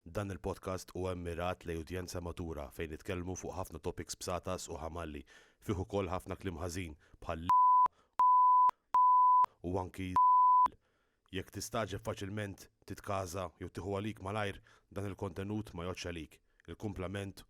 Dan il-podcast huwa mmirat lejn udjenza matura fejn nitkellmu fuq ħafna topics b'satas u ħamalli. Fih ukoll ħafna kliem ħażin bħal l-, u anki z-, jekk tistagħġeb faċilment titkaża jew tieħu għalik malajr dan il-kontenut ma jgħoddx għalik. Il-kumplament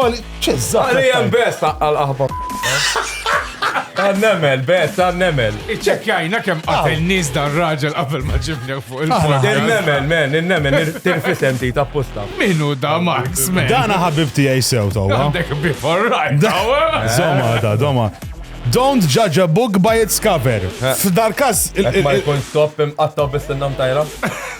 Oli, ċizza. Oli, jem bes, għal aħba. Għannemel, bes, għannemel. Iċċekjajna kem għatel nis dan raġel għafel ma ġibni fuq il-fond. Innemel, men, innemel, tirfisem ti tapposta. Minu da Max, men. Dana ħabib ti għaj sew tawa. Għandek before right, tawa. Zoma, da, zoma. Don't judge a book by its cover. F'dar kas. Ma jkun stop imqattaw bis-sinnam tajra.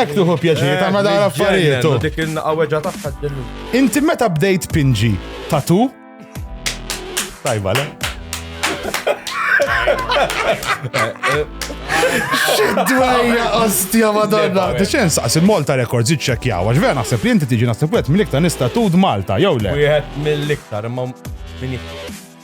Ek tuħu pjaċir, ta' ma dara affarijiet. Dik il-naqaweġa tagħha ġennu. Inti meta bdejt pinġi tatu? Tajba, le? Xidwejja, ostja, madonna. Xen saqs il-Malta Records iċċekjaw, għax vera naħseb li inti tiġi naħseb wet mill-iktar nista tud Malta, jew le. Wieħed mill-iktar, imma minn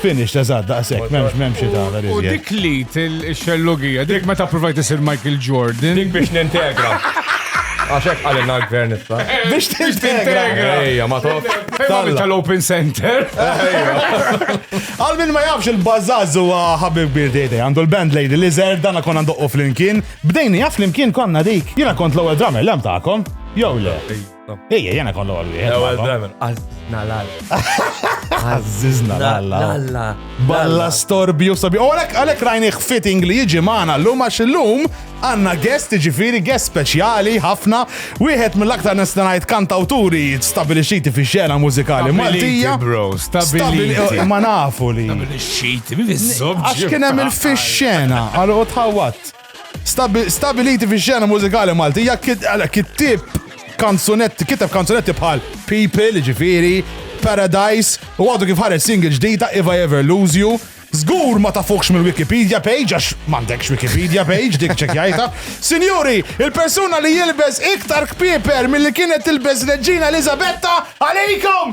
Finished, eżatt, daqshekk, m'hemmx m'hemmx xi tagħmel iżjed. U dik l-id ix-xellugija, dik meta ppruvajt isir Michael Jordan. Dik biex nintegra. Għax hekk qalilna l-gvern issa. Biex tintegra. Ejja, ma tof. Tagħmel tal-Open Center. Għal min ma jafx il-bażaż huwa ħabib kbir dejde, għandu l-band Lady Lizard, dan konna ndoqqu flimkien. Bdejni jaf flimkien konna dik. Jiena kont l-ewwel drummer lem tagħkom. Jew le. Ejja, jena kollu għal wieħed. Ewwel dramen, għażna l-alla. Għażna l-alla. Balla storbju sabi. U għalek għalek rajni fitting li jiġi maħna l-lum għax l-lum għanna guest ġifiri guest speċjali ħafna. Wieħed mill-aktar nistanajt kantawturi stabilixiti fi xena mużikali Maltija. bro, stabilixiti. Ma nafu li. Stabilixiti, mi Għax kienem il-fi xena, għal u tħawat. Stabiliti fix-xena mużikali Maltija, kittieb kanzunetti, kiteb kanzunetti bħal People, ġifiri, Paradise, u għadu kif ħareġ single ġdida If I Ever Lose You, Zgur ma tafukx mill-Wikipedia page, għax m'għandekx Wikipedia page, dik ċekjajta. Sinjuri, il-persuna li jilbes iktar kpieper mill-li kienet tilbes Reġina Elizabetta, għalikom!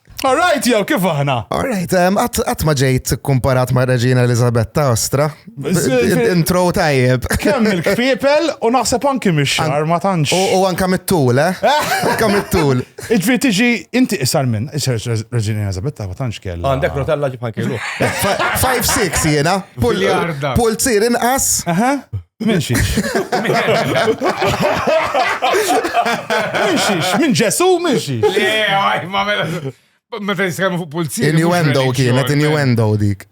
All right, jew kif aħna? All right, għat ma ġejt kumparat ma' Reġina Elizabetta Ostra. Intro tajjeb. Kemm il-kfipel u naħseb anki mix-xar ma tantx. U anka mit-tul, eh? eh? Anka mit-tul. Iġvi tiġi inti isar minn, isar Reġina Elizabetta ma tantx kella. Għandek rotella ġibħan kellu. 5-6 jena. Pulzir inqas. Minn xiex? Minn xiex? Minn ġesu? Minn xiex? Le, għaj, ma mela. Meta nitkellmu fuq pulziri. Innuendo kienet, innuendo dik.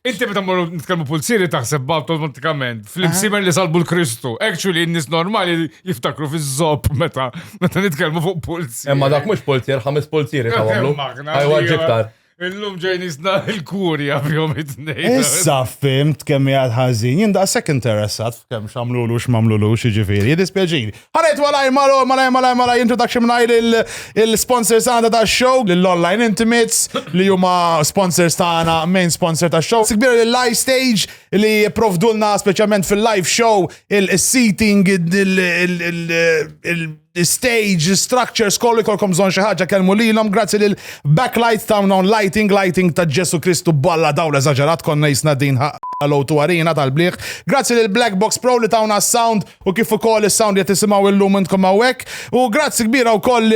Inti meta morru nitkellmu pulziri taħseb automatikament fl-imsimer li salbu l-Kristu. Actually, n-nis normali jiftakru fiż zop meta meta nitkellmu fuq pulziri. Imma dak mhux pulzir, ħames pulziri ta' għamlu. Għajwa ġiktar. Illum ġejn isna il-kurja fihom it-tnejn. Issa fimt kemm hija l-ħażin, jien daqshekk interessat f'kemm x'għamlulu x'mamlulu xi ġifieri, dispjaċin. Ħanet malaj malu, malaj malaj malaj introduction mingħajr il-sponsors għandha ta' show lill-online intimates li huma sponsors tagħna main sponsor ta' show. Sikbir lil live stage li provdulna speċjalment fil-live show il-seating il stage, structures, kollu jkollkom bżonn xi ħaġa kelmu lilhom grazzi lil Backlight Town on Lighting, Lighting ta' Ġesu Kristu balla dawl eżaġerat konna jisna din Hello to Arena tal-bliħ. Grazzi lil Black Box Pro li tawna s-sound u kif ukoll is-sound li qed tisimgħu illum intkom hawnhekk. U grazzi kbira wkoll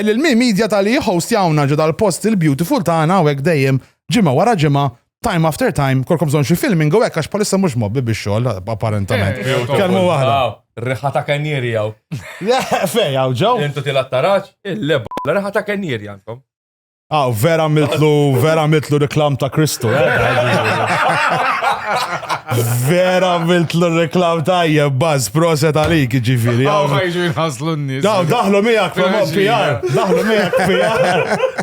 lil Mi Media tal-li jħost jawna ġo dal-post il-beautiful tagħna hawnhekk dejjem ġimgħa wara ġimgħa time after time, kolkom bżon xi filming u hekk għax palissa mhux mobbi biex xogħol apparentament. Kelmu waħda. Riħa ta' kennieri jew. Fej hawn ġew. Intu tilgħat taraġ, il-leba. Riħa ta' kennieri għandkom. Ah, vera mitlu, vera mitlu reklam ta' Kristu. Eh? Vera mitlu reklam ta' jebbaz, proset għalik ġifiri. Għaw ħajġu jħaslu n-nis. Daħlu miegħek, PR, daħlu miegħek, PR.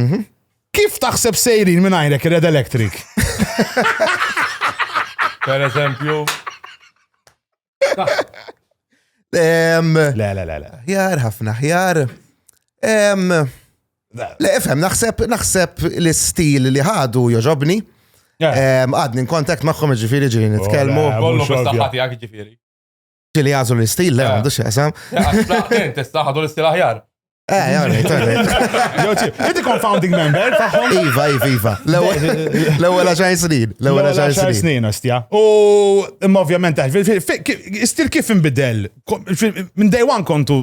Mhm. Kif taħseb sejrin minn għajrek Red Electric? Per eżempju. Em, Le, le, le, le. Ħjar, ħafna ħjar. Em, Le, efhem, naħseb, naħseb l-istil li ħadu joġobni. Yeah. Em, Għadni in kontakt maħħom ġifiri ġiri nitkelmu. Oh, le, Kollu mhux ovvja. bis-saħħa tiegħek ġifieri. Ġili għazu l-istil, le, għandu xieqsam. Tista ħadu l-istil aħjar. Eh, jgħarri, jgħarri. Inti confounding member taħħom? Iva, iva, iva. L-ewel għaxar snin. L-ewel għaxar snin, ostja. U, imma ovvjament, istil kif imbidel? Minn day one kontu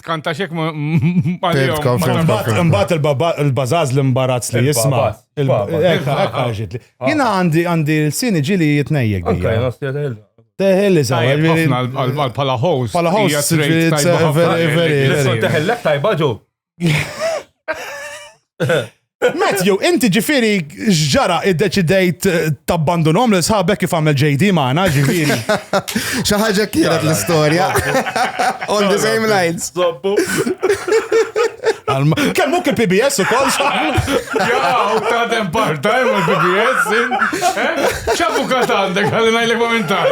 Tkanta xek ma. Mbatt il-bazaz l-imbarazz li jisma. Ekka, ekka ġitli. Jina għandi għandi l-sini ġili jitnejjek. Teħel li sa' pala host. Pala host. Teħel lek tajba ġu. Matthew, inti ġifiri ġara id-deċidejt eh, tabbandunom li sħabek kif għamel JD maħna ġifiri. ħaġa kienet l-istoria. On the same lines. Zobbu. Kemm muk il-PBS u kol Jaw, ta' dem part-time eh, il-PBS. Eh? ċabu kat għandek, għalina il-komentar.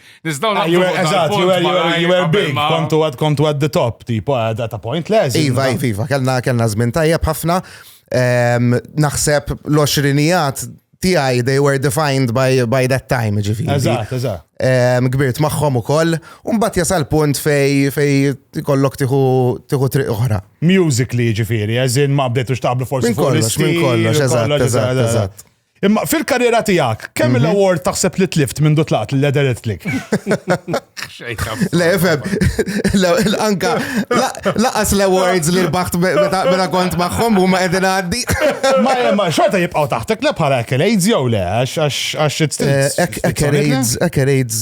Nizdaw ah, naqblu Eżatt, you were, you were big, kontu għad kontu għad the top, tipo għad at a point less. Iva, iva, iva, kellna kellna żmien tajjeb ħafna. Ehm, naħseb l-oxrinijat tiegħi they were defined by, by that time, ġifi. Eżatt, eżatt. Ehm, kbirt magħhom ukoll, u mbagħad jasal punt fej fej kollok tiħu triq oħra. Musically ġifieri, eżin ma bdejtux taqblu forsi. Minn kollox, minn kollox, eżatt, eżatt, eżatt. Imma fil-karriera tiegħek, kemm mhm. l-award taħseb li tlift minn dutlaqt li l-ederet tlik? Le, fem, anka laqas l-awards li l-baħt meta kont maħħom u ma edin għaddi. Ma jemma, xorta jibqaw taħtek le bħala ekkerejds jew le, għax it's eh, Ekkerejds, ekkerejds,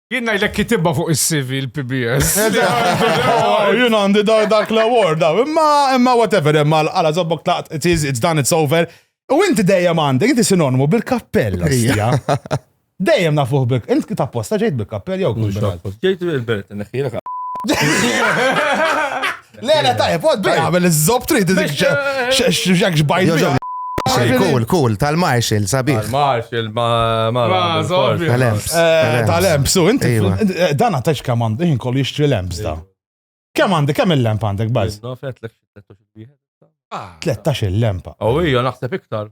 Jien ngħidlek kitibha fuq is-CV l-PBS. Jien għandi dak l-award, imma imma whatever, imma għala zobbok tlaqt, it is, it's done, it's over. U inti dejjem għandek, inti sinonmu bil-kappell. Dejjem nafuh bil Inti tapposta ġejt bil-kappell jew kull Ġejt bil-belt, neħħilek. Le, le, tajjeb, għod bi għamil iż-zob trid x'jak xbajt. Cool, cool, tal-Marshall, sabiħ. Tal-Marshall, ma, ma, ma, tal-Lemps. Eh, tal-Lemps, u inti, eh, dan għatax kam għandu, jien kollu jixtri Lemps da. Kem għandi, kem il-lemp għandek, baz? 13 il-lempa. U oh, ija, naħseb iktar.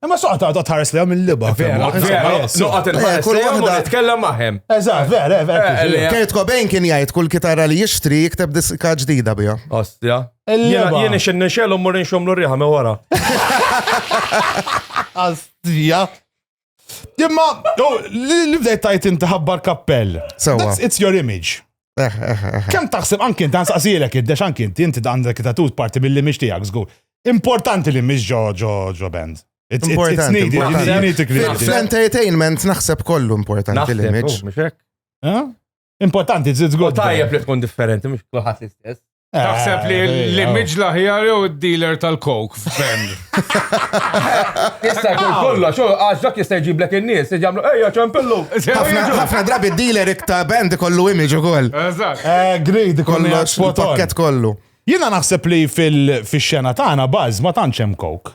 Imma soqa ta' ta' tħares lejhom il-liba. Vera, soqa tinħares lejhom u titkellem magħhom. Eżatt, vera, vera. Kurt Cobain kien jgħid kull kitarra li jixtri jikteb diska ġdida biha. Ostja. Jien ix nixxelu mmur inxomlu riħa me wara. Ostja. Imma, li bdejt tajt inti ħabbar kappell. It's your image. Eh, eh, eh, Kem taħseb anki inti nsaqsilek id-dex anki inti inti għandek tatut parti mill-li mhix tiegħek żgur. Importanti li mhix ġo ġo ġo band. Importanti. Fl-entertainment naħseb kollu importanti li mhix. Importanti żgur. Tajjeb li tkun differenti mhux kulħadd l-istess. Taħseb li Eh, l-image l-aħjar jew id-dealer tal-coke f'Ben. Jista' jkun kollu, xo, għax dak jista' jġiblek in-nies, jġamlu, ejja ċempillu. Ħafna ħafna drabi dealer ikta band ikollu image ukoll. Eżatt. Eh, Greed ikollu Kollox, spot on. il-pakket kollu. Jiena naħseb li fil- fix-xena tagħna baż ma tantx hemm coke.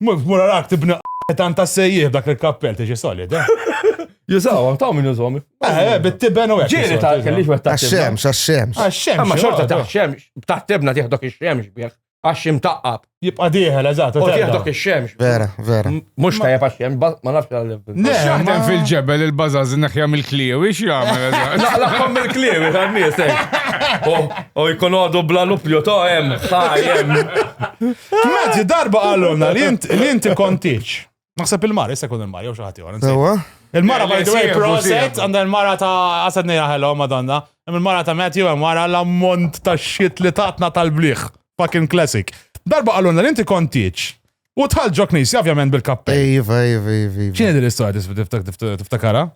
Mura rak tibni tan ta' sejjih dak il-kappell tiġi solid, eh? Jusaw, taw minn jużom. Eh, eh bit-tiben u għek. Ġiri ta' kellix għet ta' xemx, ta' xemx. Ta' xemx. Ma xorta ta' xemx, ta' tibna tiħdok il-xemx bieħ. Għax imtaqqab. Jibqa diħel, eżat. Tiħdok il-xemx. Vera, vera. Mux ta' jep għax xemx, ma nafx għallim. Mhux jaħdem fil-ġebel il-bażaż neħja mill-kliewi x'jagħmel. Laqlaqhom mill-kliewi tan-nies hekk. U jkun għadu bla lupju to hemm ħajem. Maġi darba qalulna li inti kontiċ. Naħseb il-mar, issa kun il-mar, jew xi ħadd ieħor. Il-mara by the way, proset, għandha il-mara ta' għasad nejra ħello, madonna. Il-mara ta' Matthew, il-mara l-ammont ta' xit li tatna tal-bliħ. Fucking classic. Darba qalulna li inti kontiċ. U tħal ġo knisja, ovvjament, bil-kappell. Iva, iva, iva. iva. ċini din l-istoria tiftakara?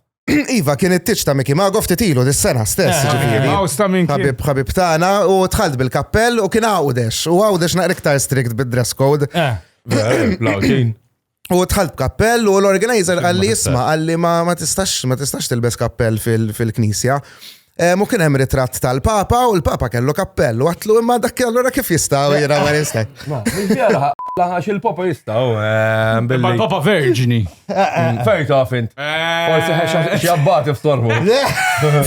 Iva, kien it-tiċ ta' Miki Mago ftitilu dis-sena stess, eh, ġifiri. Għaw sta' minn Habib, habib tana, u tħalt bil-kappell u kien għawdex. U għawdex naqriktar strict bid-dress code. Eh, Lawġin. U tħalt kappell u l-organizer għalli jisma għalli ma tistax ma tistax tilbes kappell fil-knisja. Mu kien hemm ritratt tal-Papa u l-Papa kellu kappell u għatlu imma dak allura kif jistaw jira ma jista. Laħax il-Papa jistaw. Imma l-Papa verġni. Fejn taf int. Forsi ħex jabbati f'torbu.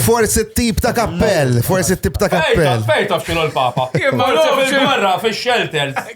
Forsi t-tip ta' kappell, forsi t-tip ta' kappell. Fejn taf xinu l-Papa. Imma l-għom xil-barra fil-shelters.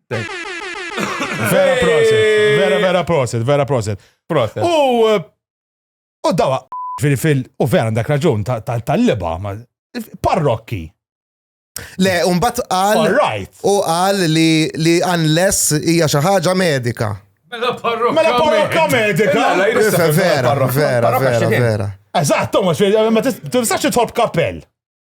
Vera proset, vera vera proset, vera proset. Proset. U eh, u dawa fil-fil u vera għandek raġun ta- ta- tal-liba ma- parrokki. Le, umbat qal. All right. U qal li li unless hija xi ħaġa medika. Mela parrokka. Mela parrokka medika. Mela, la, jrid Vera, vera, vera, vera. Eżatt, Thomas, ma tis- tistax titħobb kappell.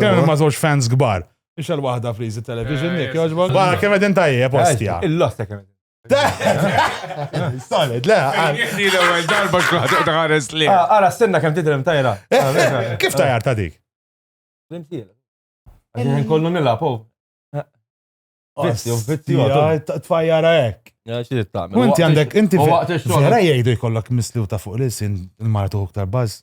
Kemm ma żewġ fans kbar. Ix għal waħda friżi television eh, jekk jogħġbok. Bara kemm qegħdin tajjeb postja. Eh, Il-losta kemm Solid, le. Jihdi l-ewel darba xkuħat uħtaħares li. Ah, ara, stenna kem tidrem tajra. Eh, ah, kif tajjar ta' dik? Rimtiela. Għin kollu nilla, po. Vizzju, vizzju. Tfajjara ek. Inti għandek, inti vera jgħidu jkollok mislu ta' fuq l-sin il-martu uktar baz.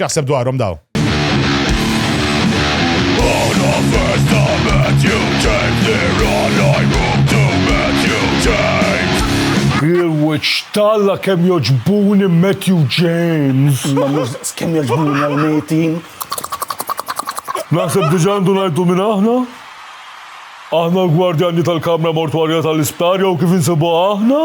X'jaħseb dwarhom daw? Il-weċ talla kem joġbuni Matthew James. Ma mużdaqs kem joġbuni għal-metin. Naħseb diġandu najdu minn aħna? Aħna l-gwardjani tal-kamra mortwarja tal-isptar jew kif insibu aħna?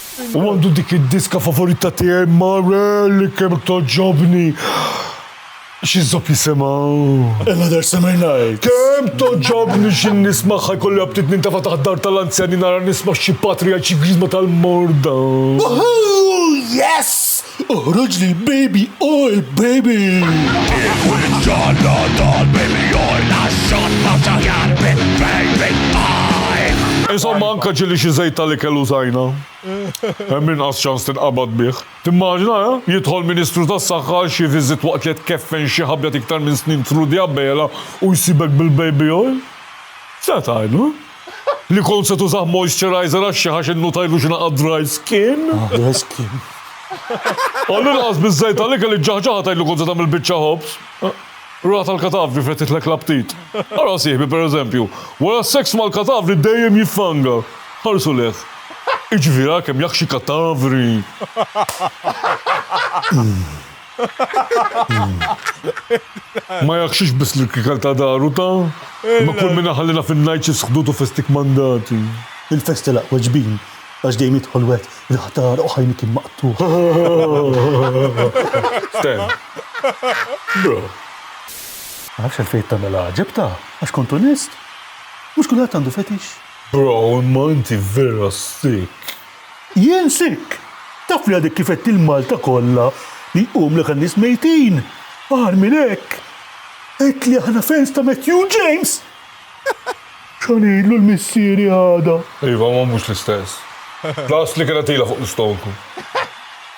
U għandu dik id-diska favorita tiegħi Marel kemm togħġobni. Xi żopp jisimha? Another Summer Night. Kemm togħġobni xi nismagħha jkolli aptit nintefa' taħt dar tal-anzjani nara nisma' xi patriark xi griżma tal-morda. Woohoo! Yes! Oħroġ lill-baby oj baby! Il-wiċċ għandha dan billi oj laxxat ma taħjar minn baby oj! Insomma anke ġieli xi żejt tal-ikel użajna, hemm inqas ċans tinqabad bih. Timmaġina, eh? Jidħol Ministru tas-Saħħa għal xi viżit waqt li qed tkeffen xi ħabjat iktar minn snin through the abela u jsibek bil-baby oj? X'se tgħidlu? Li kont se tużah moisturizer għax xi ħax innutajlu x'ingħaqad dry skin. Ah, dry skin. Għall-inqas biż-żejt tal-ikel iġġaħġaħa tgħid li kont se tagħmel biċċa ħobż. Ra tal-katavri fettitlek l-aptit. Ara sieħbi pereżempju, wara s-seks mal-katavri dejjem jiffanga. Ħarsu lejh. Iġifieri ara kemm jaħxi katavri. Ma jaqxix biss l-irkikal ta' daru ta'. Imma kull min iħallina fin-ngħid xi sħdutu festik mandati. Il-fest telaq weġbin għax dejjem jidħol wegħed il-ħtar u ħajni kien maqtugħ. Ten. Bro. Ma nafx għalfejn tagħmel għaġeb ta', għax kont onest? Mhux kulħadd għandu fetix. Bro imma inti vera sick. Jien sikk! Taf li għadek kif għedt il-Malta kollha li jqumlek għan-nies mejtin! Agħar minn hekk, għedt li aħna fans ta' Matthew James! X'għan ngħidlu l-missieri għada? Iva, imma mhux l-istess. L-għasli kienet ilha fuq l-istonku.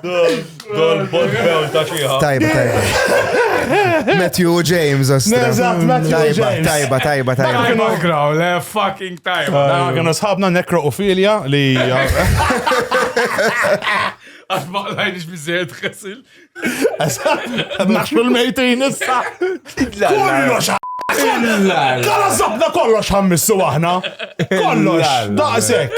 Dol botbew ta' xieħa. Tajba, tajba. Matthew James, ostra. Eżatt, Matthew James. Tajba, tajba, tajba. Kienu graw, le fucking tajba. Kienu sħabna nekroofilja li. Għax ma lajnix bizzejt xesil. Naxxu l-mejtin issa. Kullu xa. Kala zabna kollox ħammissu aħna. Kollox, daqsek.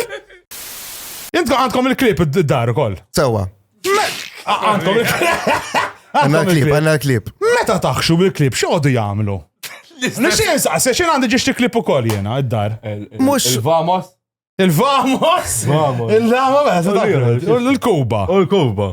Intkom għandkom il-klip id-dar ukoll. Sewa. Għandkom il-klip. Għanna l-klip, għanna l-klip. Meta taħxu bil-klip, xogħdu jagħmlu? Nixin saqsi, xin għandi ġiex klip ukoll jena, id-dar. Mux. Il-Vamos. Il-Vamos. Il-Vamos. Il-Kuba. U l-Kuba.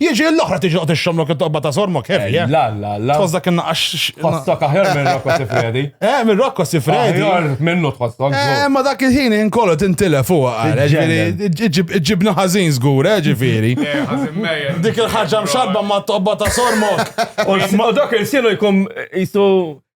Jiġi l-oħra tiġi qod ix-xomlok it-toqba ta' sormok heavy, eh? La, la, la. Tħossok innaqax. Tħossok aħjar minn Rocco Sifredi. Eh, minn Rocco Sifredi. Aħjar minnu tħossok. Eh, ma dak il-ħin inkollu tintilef fuq għal, ġifieri ġibna ħażin żgur, eh, ġifieri. Eh, Dik il-ħaġa mxabba ma' toqba ta' sormok. U dak il-sienu jkun jisu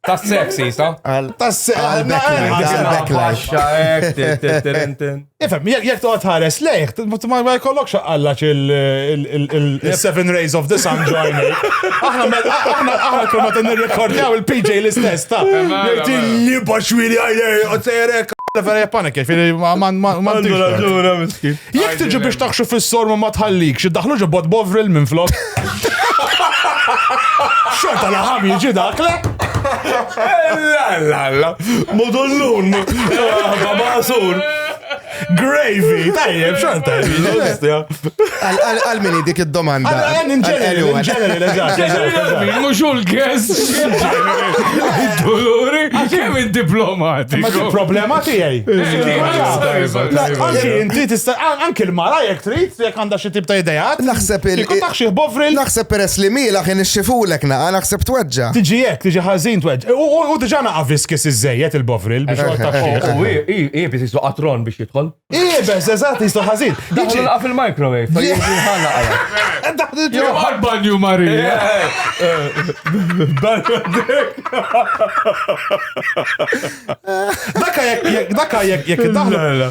Ta' sexy, sa? Ifem, jek toqgħod ħares lejh, ma jkollokx għallax il-Seven Rays of the Sun join. Aħna aħna kuna ta' nirrekordjaw il-PJ l-istess ta' jirti li baxwili għajlej, għotzerek. Ferja panik, fili ma man ma man Jek tiġi biex taħxu fil-sormu ma tħallik, xiddaħlu ġobot bovril minn flok. Xorta laħam jiġi dak, le? Lalla, modullun, babasur. Gravy, tajjeb, xorta. Għal mini dik id-domanda. Għal in ġenerali, in ġenerali, eżatt. Mux u l-gess. Dolori, għaxem il-diplomati. Ma problema tijaj. Anki inti tista, anki l-mara jek trit, jek għanda Xi tip ta' ideat? Naħseb il- Kieku tah xi ħbovril. Naħseb peress li miela kien ixxifulek naqa' naħseb tweġġa'. Tiġi hekk, tiġi ħażin tweġġ'. U u u diġà naqa' viskis iżżejjed il-bovril biex joqgħod tah xieħ. U i- i- iebes jislu qatron biex jidħol. Iebes, eżatt, jislu ħażin. Daħlu Jiġi- nilqa' fil-microwave. Fa jiġi ħalla għala. Daħlu ġo- Jew għal-banju Marija. Daka jekk jekk daka jekk jekk iddaħlu.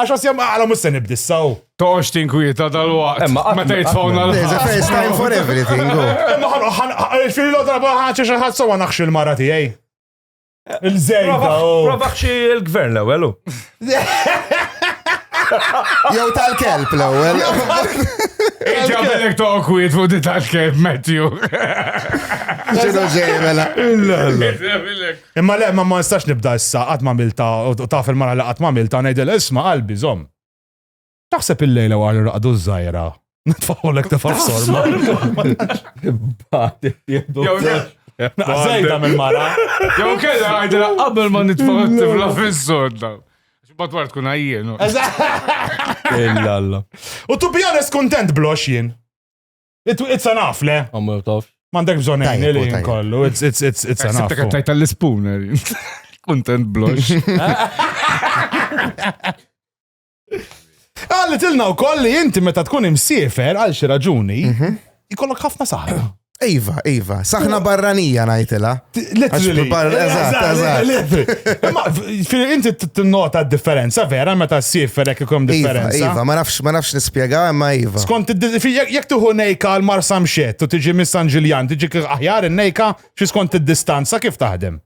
Għax għas jam għala mus se nibdissaw. Toqx tinkwieta dal-waqt. Emma għatma. Meta jitfawna l There's a first time for everything. go. Imma ħan, ħan, ħan, fil lo darba ħanċi xaħat sawa naħx il-mara tijaj. Il-żejda, oh. Provax xi l-gvern l-ewwel. u. Jew tal-kelb l-ewwel. Iġa bellek toqwiet fuq di tal-kelb, Matthew. Xinu ġej mela. Iġa bellek Imma le, ma nistax nibda issa, qatt m'għamiltha, u taf il-mara li qatt m'għamiltha, ngħidilha isma' qalbi, żomm. Taħseb il-lejla wara li raqdu ż-żgħira, nitfagħulek tefgħa f'sorma? Imbagħad jieħdu. Naqas żejda mill-mara. Jew kellha ngħidilha qabel ma nitfgħu t-tifla fis-sorda. X'bad wara tkun għajjien. Illa Alla. U to be honest kontent blox jien. It's enough, le? Għamur tof. Mandek bżon għajni li kollu. It's, it's, it's, it's eh, enough. Sibtek għattajt għall-spooner. Content blush. Għalli tilna u kolli inti meta tkun imsiefer għal xi raġuni, mhm. jkollok ħafna saħna. Iva, iva, saħna barranija najtila. Literally. Inti t-nota differenza vera meta s-sir ferek ikom iva, differenza. Iva, ma nafx, ma nafx nispjega, ma iva. Skont jek tuħu nejka għal mar samxet u tiġi mis San Ġiljan, tiġi aħjar nejka xi skont id-distanza kif taħdem?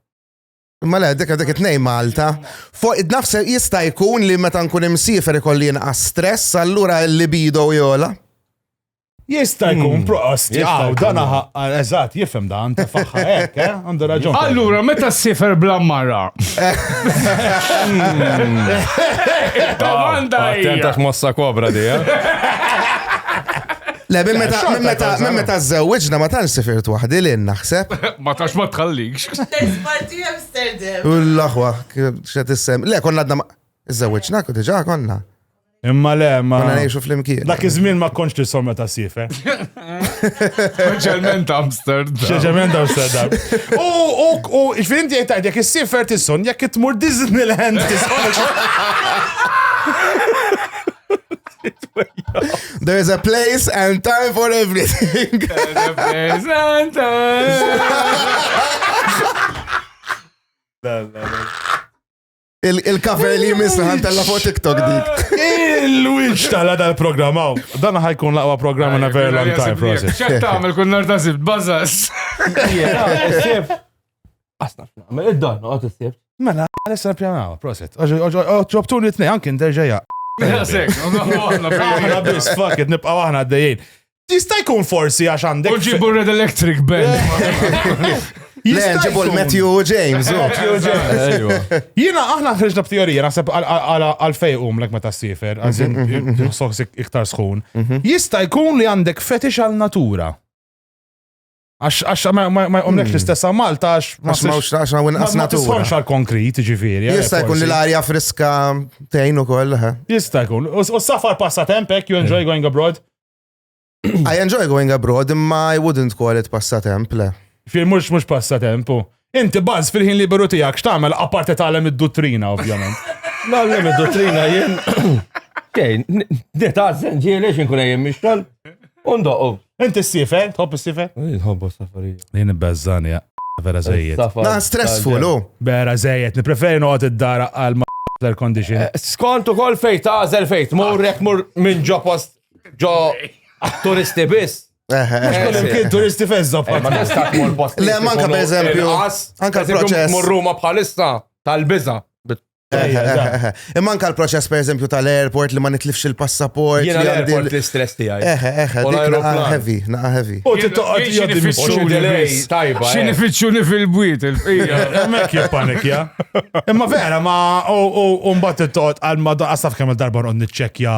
Ma le, dik dik it-nej Malta. Fuq id-nafs jista' jkun li meta nkun imsiefer ikolli inqas stress, allura l-libido jola. Jista' jkun hmm. proqost, jaqaw, dan eżatt, jifhem dan, ta' faħħa hekk, eh? Għandu raġun. Allura, meta s-sifer bla mara? Hmm. Domanda hija. Attentax mossa kobra di, eh? Le, minn meta minn meta minn meta żewġna ma tantx sifirt waħdi li naħseb. Ma tax ma tħallikx. Parti Amsterdam. U l-aħwa, x'qed issem. Le, konna għadna ma żewġna diġà konna. Imma le, ma. Konna ngħixu flimkien. Dak iż-żmien ma kontx li somma ta' sife. Speċjalment Amsterdam. Speċjalment Amsterdam. U u u x'fint jgħid tajt jekk is-sifer tisson jekk tmur Disneyland tisson. There is a place and time for everything. There is a place and time. Il-cover li jmiss li ħantella fuq TikTok dik. Il-witch tala dal-programm għaw. Dan ħajkun laqwa programm in a very long time for us. ċek tagħmel kun nar ta' zibt, bażas. Asna, mela id-dan, għot s-sibt. Mela, għalissa pjanaw, proset. Ġobtu li t-nej, anki nderġeja. Aħna bis, fuck it, nibqaw aħna għaddejjien. Jista' jkun forsi għax għandek. U ġibu Red Electric Band. Le, ġibu l-Matthew James. Jina, aħna ħriġna b'teorija, naħseb għal-fej umlek meta s-sifer, għazin, soħs iktar sħun. Jista' jkun li għandek fetix għal-natura. Għax għax ma ma- ma jqomlekx l-istess għal Malta għax ma Għax mawx għax hawn inqas ma natura. tisħonx għal konkrit, ġifieri. għalhekk Jista' jkun li forsi. l-arja friska tgħin ukoll. eh. Jista' jkun. U u s-safar passatemp hekk, you enjoy going abroad. I enjoy going abroad imma I wouldn't call it passatemp le. Fir mhux mhux passatemp u. Inti baż fil-ħin liberu tiegħek x'tagħmel apart tagħlem id-duttrina ovvjament. Nagħlem id-duttrina jien. Kejn, nitgħażżen ġieli x'inkun ejjem mixtol. Undoqu. Inti s-sifer, tħobb is-sifer? Nħobbu safarija. Jien ibbeżżan ja. Vera żejjed. Na stressful u. Vera żejjed, nippreferi noqgħod id-dara għal ma air condition. Eh, skont ukoll fejn tażel fejn tmur jekk mur minn ġo post ġo turisti biss. Kien turisti fezza eh, Ma nistax mor post. Le, manka per eżempju. Anka proċess. Mor Ruma bħalissa tal-biza. Eh, eh, Imma anka l-proċess per eżempju tal-airport li ma nitlifx il-passaport. Jena l-airport l-istress tijaj. Eħe, eħe, naqa heavy, naqa heavy. U t-toqqa tijaj nifitxu delay, tajba. Xi nifitxu li fil-bwiet il-fija. Mek jibpanik, ja. Imma vera, ma u mbatt t-toqqa għal-madda, għasaf kemm darba għon nitċekja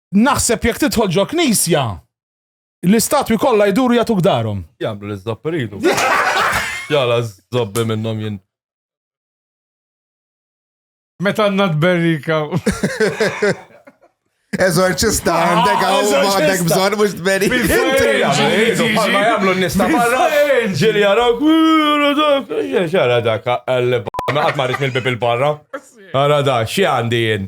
Naħseb jekk tidħol ġo knisja, l-istatwi kollha jduru jagħtuk darhom. Jagħmlu l-iżopp iridu. Jala żobbi minnhom jien. Meta għandna tberrika. Eżorċista ah, għandek għaw għandek bżon mux tberi. Ma jamlu nista barra. Ġili għarawk. Xara dak għal għat marrit mill-bib il-barra. Għara da, xie għandi jien?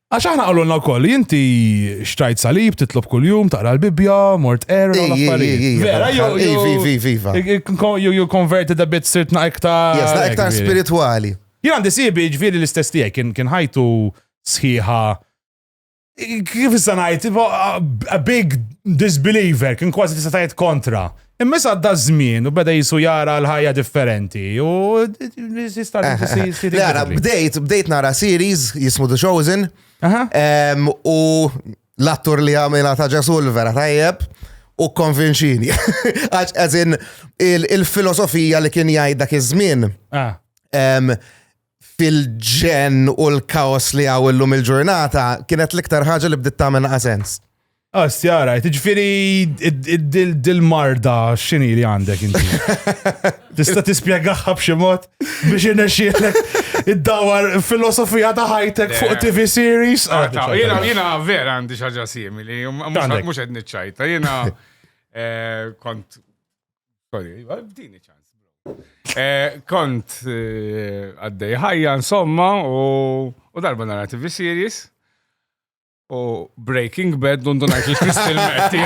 Għax aħna qalulna wkoll li inti xtrajt salib, titlob kuljum, taqra l-Bibbja, mort qer, u l-affarijiet. Vera, jew jew konverti da bit sirtna iktar. Jasna iktar spiritwali. Jien għandi sibi ġviri l-istess tiegħi kien kien ħajtu sħiħa kif issa ngħid, a big disbeliever, kien kważi tista' tgħid kontra. Imma issa għadda żmien u beda jisu jara l-ħajja differenti u jista' Nara, bdejt, bdejt nara series jismu The Chosen u l-attur li għamilha ta' ġesul vera tajjeb u konvinċini. Għax għazin il-filosofija li kien jgħid dak iż-żmien. Ah. fil-ġen u l-kaos li għaw illum il-ġurnata kienet l-iktar ħaġa li bdiet tagħmel sens. Astjara, ah, tiġifieri dil-marda x'inhi li għandek inti. Tista' tispjegaha b'xi mod biex inexxielek id-dawar filosofija ta' ħajtek fuq TV series. Ah, ah, jiena jiena vera għandi xi ħaġa simili, mhux qed niċċajta. Jiena eh, kont Sorry, bdini ċans. Eh, kont eh, għaddej ħajja insomma u darba nara TV series u Breaking Bad dundu najt li Kristin Merti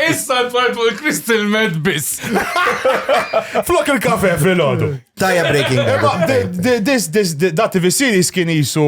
Issa tfajt fuq il-Crystal Med biss. Flok il-kafe fil-ħodu. Tajja Breaking Bad. Da TV series kien jisu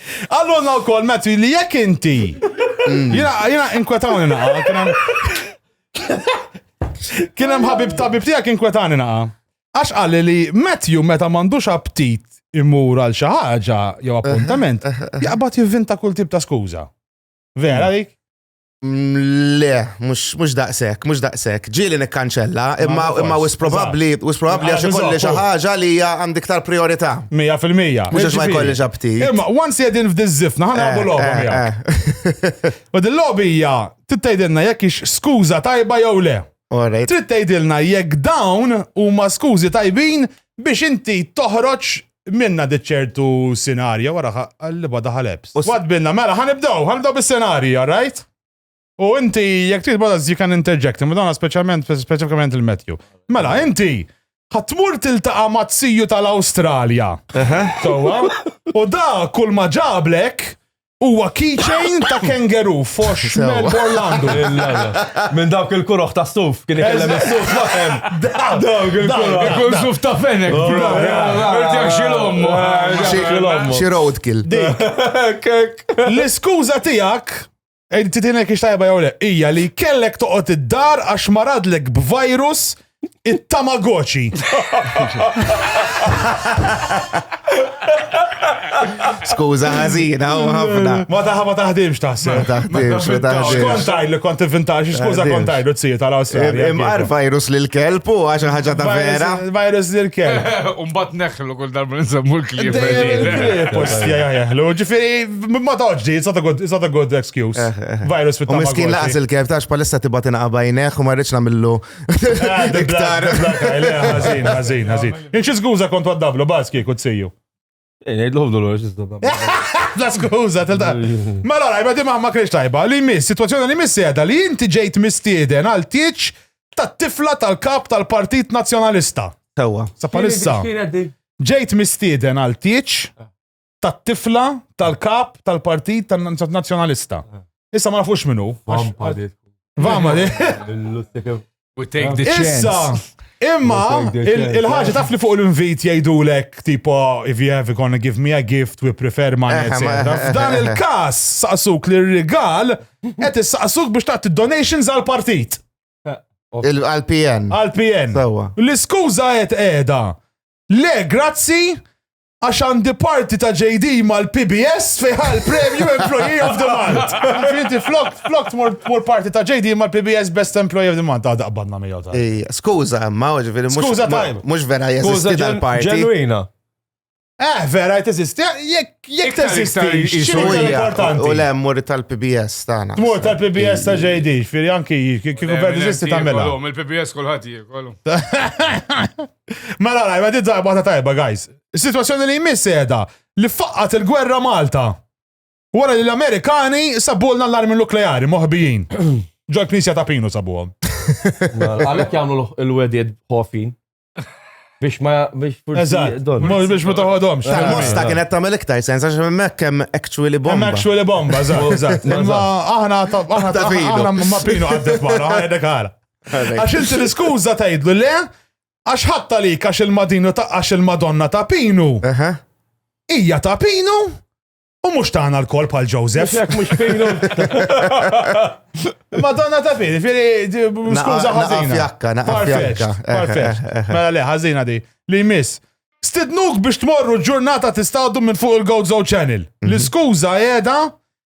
Qalulna wkoll Matthew li jekk inti. Jiena jiena inkwetawni naqa' kien hemm. Kien hemm ħabib tabib tiegħek inkwetani naqa'. Għax qal li Matthew meta m'għandux aptit imur għal xi ħaġa jew appuntament, jaqbad jivvinta kull tip ta' skuża. Vera dik? Le, mux daqsek, mux daqsek. Ġili nikkanċella, imma imma wis probabli, wis probabli għax ikolli xi ħaġa li hija għandi iktar priorità. 100%. Mux għax ma jkolli ġabti. Imma once jedin f'dizzifna, ħana għabu eh, logħba eh, miegħek. Eh. U dil-logħbi hija tittejdilna jekk ix skuża tajba jew le. Trid tgħidilna jekk dawn huma skużi tajbin biex inti toħroġ Minna dit ċertu sinarja wara qalliba daħal ebs. Wad binna, mela, ħanibdaw, ħanibdaw bis-senarji, all right? U inti, jek trid bada you can interject, imma dawna speċjalment, speċifikament il-Matthew. Mela, inti, ħatmur tiltaqa mazziju tal-Awstralja. Sowa? U da kull ma ġablek, Huwa keychain ta' kangaroo fox Melb Orlando. Minn dawk il-kuroħ ta' suf, kien ikellem is-suf ma' hemm. Dawk il-kuroħ. Ikun suf ta' fenek. Xi roadkill. L-iskuża tiegħek Titina kiex tajba jew le, hija li kellek toqgħod id-dar għax maradlek b'virus It-Tamagotchi. Skuża ħażina u ħafna. Ma taħ ma taħdimx taħseb. Ma taħdimx, ma taħdimx. Kont tajlu kont invintax, skuża kont tajlu tzija tal-Awstralja. Imqar virus lil kelb u għax ħaġa ta' vera. Virus lil kelb. Umbat neħlu kull darba nsemmu l-klib. Postja jaħlu, ġifiri, ma toġġi, it's not a good excuse. Eh, eh, eh. Virus fit-tamagotchi. U miskin laqas il-kelb tax palissa tibatina qabajneħ u marriċ namillu Ah, the black, the black eye, le, ħażin, ħażin, ħażin. Inxi skuża kont waddablu, bas kieku tsiju. Eh, Ngħidlu ħobdu l-għor, xistabba. La skuża, telta. Ma la rajba di maħma kreċ tajba, li miss, situazzjoni li miss jeda li inti ġejt mistieden għal tieċ tat tifla tal-kap tal-Partit Nazzjonalista. Sewa. Sa palissa, Kienet di. ġejt mistieden għal tieċ tat-tifla tal-kap tal-partit tan-nazzjonalista. Issa ma nafux minnu. Vampa di. Vampa di. We take the chance. Issa, imma, il-ħagġa taf li fuq l-invit jajdulek, tipo, if you have gonna give me a gift, we prefer money, eh, etc. Eh, F'dan eh, il-kas, saqsuk li r-rigal, et saqsuk biex taqt donations għal-partit. Għal-PN. Għal-PN. L-iskuza et edha. Le, grazzi, Għax għandi parti ta' JD mal-PBS fejħa l-premju Employee of the Month. Inti flok, flok tmur parti ta' JD mal-PBS Best Employee of the Month. Għada qbadna mi jota. Skuza, ma uġveri, skuza tajm. Mux vera jeżisti dal-parti. Ġenwina. Eh, vera, jtesisti, jek tesisti, xinu importanti. U le, mur tal-PBS tana. Mur tal-PBS ta' JD, firri anki, kiku vera tesisti ta' mela. Il-PBS kullħat jie, kollu. Mela, mela, ma tidżaq bata tajba, guys. Is-sitwazzjoni li jmiss edha li faqqat il-gwerra Malta. Wara li l-Amerikani sabulna l-armi nukleari moħbijin. Ġol knisja ta' Pinu sabuhom. Għalek jagħmlu l-wedid ħofin. Biex ma biex Eżatt, biex ma taħodhomx. Mosta kienet tagħmel iktar sens għax hemmhekk hemm actually bomba. Hemm actually bomba, eżatt. Imma aħna aħna ma pinu għaddek wara, għaddek għara. Għax inti l-iskuża tgħidlu le, għax ħatta li għax il-madinu ta' għax il-madonna ta' pinu. Ija ta' pinu u mux taħna l-kol pal Joseph. Jek mux pinu. Madonna ta' pinu, firri, skuza ħazina. Fjakka, naqqa fjakka. Mela le, ħazina di, li miss. Stidnuk biex tmorru ġurnata tistawdu minn fuq il-Gozo Channel. Mhm. L-iskuza jeda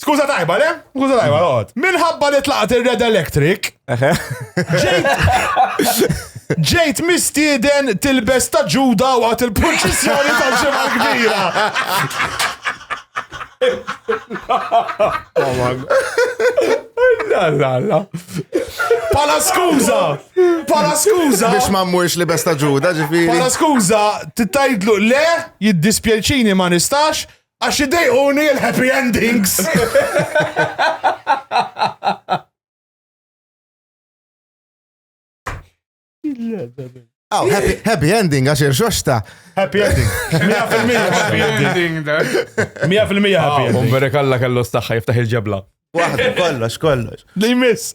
Skuża tajba, le? Skuża tajba, għod. Minħabba li tlaqt il-Red Electric, ġejt mistieden tilbes ta' ġuda waqt il-proċessjoni ta' ġimgħa kbira. Pala skuża! Pala skuża! Biex ma mmurx li besta ġuda ġifiri. Pala skuża, titajdlu le, jiddispjaċini ma nistax, Għax idejquni il-happy endings. Aw, happy, happy ending għax irxoxta. Happy ending. 100% happy ending. 100% happy ending. Umbere kalla kellu staħħa jiftaħ il-ġebla. Waħda, kollox, kollox. Li miss.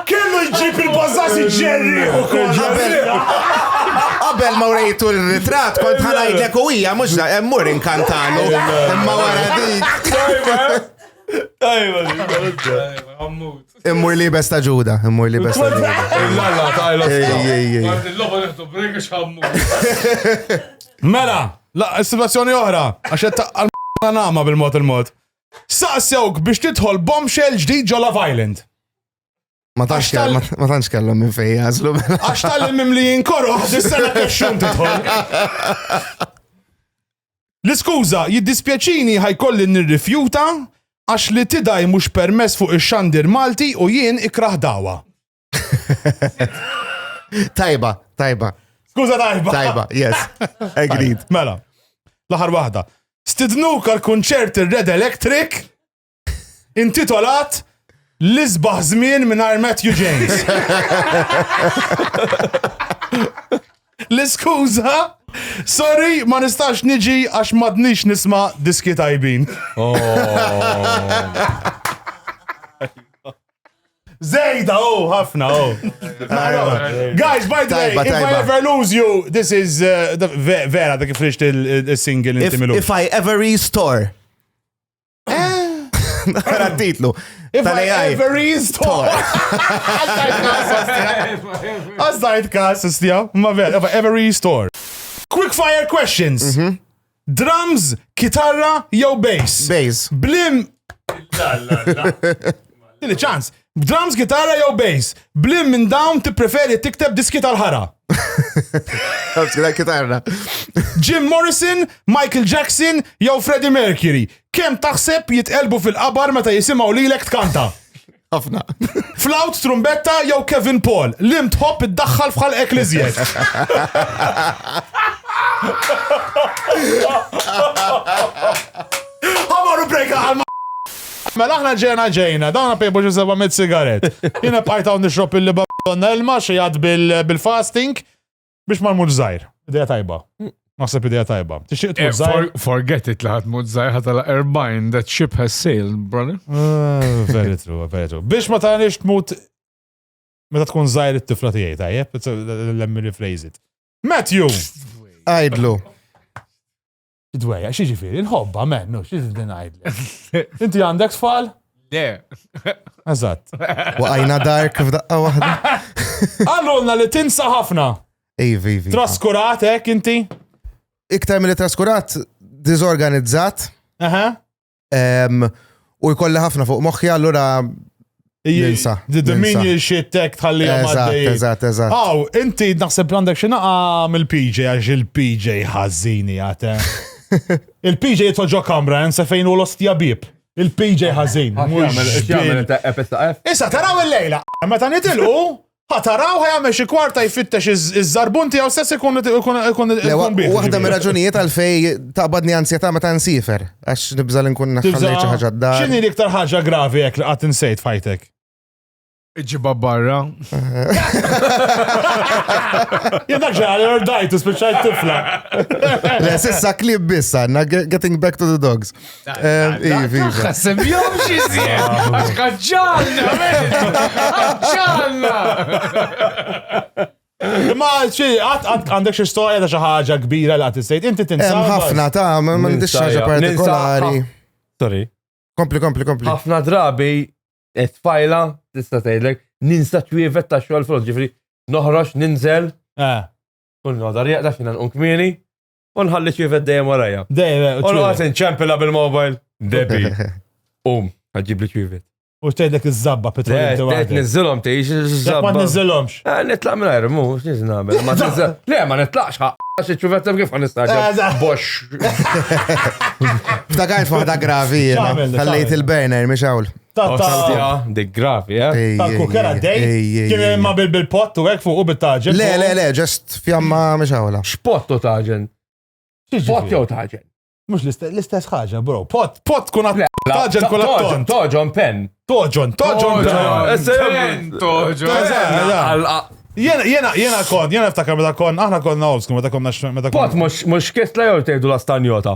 Kellu jġib il-bazzati ġerri u Qabel. Qabel ma urejtu l-ritrat, kont ħanajdlek u hija mhux da emmur inkantanu. Imma wara dik. Tajba, Immur li besta ġuda, immur li besta ġuda. Lalla, tajla. Ej, ej, ej. Il-loba neħdu brek xammu. Mela, la, situazzjoni oħra, għax qed taqqal nama bil-mod il-mod. Saqsewk biex tidħol bombshell ġdid ġo Love Island. Ma tantx kellhom minn fejn jażlu. Mela. Għax tal-mim li jinkoru, s-sena kexxun tidħol. L-iskuża, jiddispjaċini ħajkolli nirrifjuta għax li tidaj mhux permess fuq ix-xandir Malti u jien ikraħ dawa. tajba, tajba. Skuża tajba. Tajba, yes. Agreed. Mela, l-aħħar waħda. Stidnuk għal kunċert ir-Red Electric intitolat L-isbaħ żmien mingħajr Matthew James. L-iskuża Sorry, ma nistax niġi għax madnix nisma diski tajbin. Oh. Zejda, oh, ħafna, oh. Guys, by the way, if I ever lose you, this is uh, vera da kif rixt il-single inti milu. If I ever restore. Nara titlu. If I ever restore. Għazzajt kas, istja. Ma vera, if I ever restore. Quick fire questions. Mhm. Drums, kitarra, jew bass. Bass. Blim. Dili ċans. B'drums, gitarra jew bass? B'lim minn dawn tippreferi tikteb diski tal-ħara? Għabskina kitarra. Jim Morrison, Michael Jackson jew Freddie Mercury. Kem taħseb jitqelbu fil-qabar meta jisimaw lilek tkanta? ħafna. Flaut, trumbetta jew Kevin Paul, lim tħobb iddaħħal fħal ekliżjed. Għamaru brejka għal Mela aħna ġejna ġejna, dawn ħapieb u xi seba' mitt sigarett. Jiena bqajt hawn nixrob il-libaddonna ilma, xi għadd bil-fasting, biex ma nmutx żgħir. Idea tajba. Naħseb idea tajba. Tixtieq tmut eh, żgħir? Forget it li ħadd mut żgħir ħatala erbajn, that ship has sailed, brother. Eh, very true, very true. Biex ma tagħniex tmut meta tkun żgħir it-tifla tiegħi tajjeb, let me rephrase it. Matthew! Għajdlu. Id-dwejja, xi ġifieri, il-ħobba, men, no, xi din ngħidlek. Inti għandek tfal? Le. Eżatt. Waqajna dark f'daqqa waħda. Għallulna li tinsa ħafna. Iva, iva. Traskurat, hekk inti? Iktar mill traskurat, diżorganizzat. Aha. U jkolli ħafna fuq moħħi allura Jinsa. The Dominion shit tech tħalli għamaddej. Eżat, eżat. Aw, inti naħseb għandek xinaqa mill-PJ għax il-PJ ħazzini għate. Il-PJ jitħoġo kamra, jensa fejn u l-ostja bib. Il-PJ ħazzin. Issa taraw il-lejla, meta nitilqu, Ħa taraw ħa jagħmel xi kwarta jfittex iż-żarbun tiegħu stess ikun ikun ikun bih. Waħda mir-raġunijiet għalfej taqbadni ansjetà meta nsifer għax nibża' li nkun naħħallej xi ħaġa d-dar. X'inhi l-iktar ħaġa gravi hekk li qatt insejt fajtek? Iġiba barra. Jedak ġeħal, jordajtu, spiċajt tifla. Le, sissa klib bissa, getting back to the dogs. Semmjom xizien, għax ħagġalna, ħagġalna. Ma xi qatt għandek xi storja ta' xi ħaġa kbira li qatt issejt, inti tinsab. Hemm ħafna ta' ma m'għandix ħaġa partikolari. Sorry. Kompli, kompli, kompli. Ħafna drabi qed fajla tista' tgħidlek ninsa twievet ta' xogħol front, ġifri noħroġ ninżel. Eh. Kull nodar jaqdax jiena nqum kmieni. U nħalli ċifet dejjem warajja. Dejjem, eh, u U l-għas ċwievet. nċempila bil-mobile. Debi. Um, għadġib li ċifet. U tgħidlek iż-żabba Le, petrol inti qed waħdek. nizzilhom tgħix Jekk ma iż-żabba. niżilhomx. Eh, Nitlaq minn għajr, mhux xiex nagħmel. Ma tiżel. Le, ma nitlaqx ħaq. Għax iċ-ċifet hemm kif ħan nistaġab. Eżatt. Box. Ftakajt fuħda gravi jena. X'għamel, Ħallejt x'għamel? il-burner, miex hawn. Ta' Oh, ta' Santja, dik gravi, eh? Ej, ta' ej, kukera ej, dej. ej, ej, Kien ej. imma bil- bil-pottu hekk fuq u bit-taġel. Le, le, le, ġest fjamma miex għawla. Xpott u taġen. Pot jew taġen. Mux l-istess ħaġa, bro. Pot, pot kun għat. Taġel kun għat. Toġon pen. Toġon, toġon, toġon. Pen, toġo. Jena, jena, jena kon, jena ftakar meta kon, aħna konna obsku meta konna x- meta Pot konna. mux mux kisla jew tgħidu la stanjota.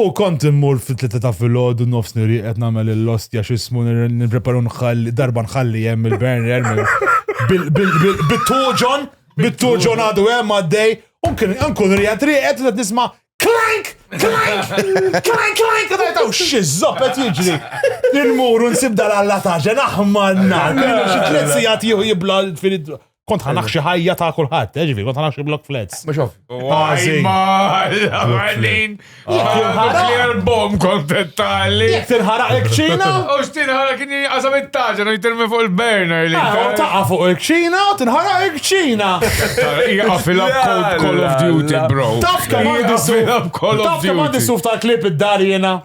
U kont immur fit-tlieta ta' filgħodu nofs niri qed nagħmel l-ostja x'ismu nippreparu nħalli darba nħalli hemm il-burner bit-tuġon, bit-tuġon għadu hemm għaddej, u nkun rijat riqet qed nisma' klank, klank, klank, klank, u tajtaw xizzop qed jiġri. Il-muru nsib dal-alla taġen aħmar nar, xi tliet sigħat jibla l-filid. Kont ħanaħ xi ħajja ta' kulħadd, eh, ġifi, kont ħanaħ xi block flats. Mhux ovvju. Għażin. Għalin. Nuclear bomb kontettali. Jek tinħaraq il-kċina? U x'tinħaraq kien jinqasam it-taġa u jitirmi fuq il-burner li. Ah, u taqa' fuq il-kċina u tinħaraq il-kċina. Jaqfil up Call of Duty, bro. Taf kemm għandi suf. Taf kemm għandi suf tal-klip id-dar jena.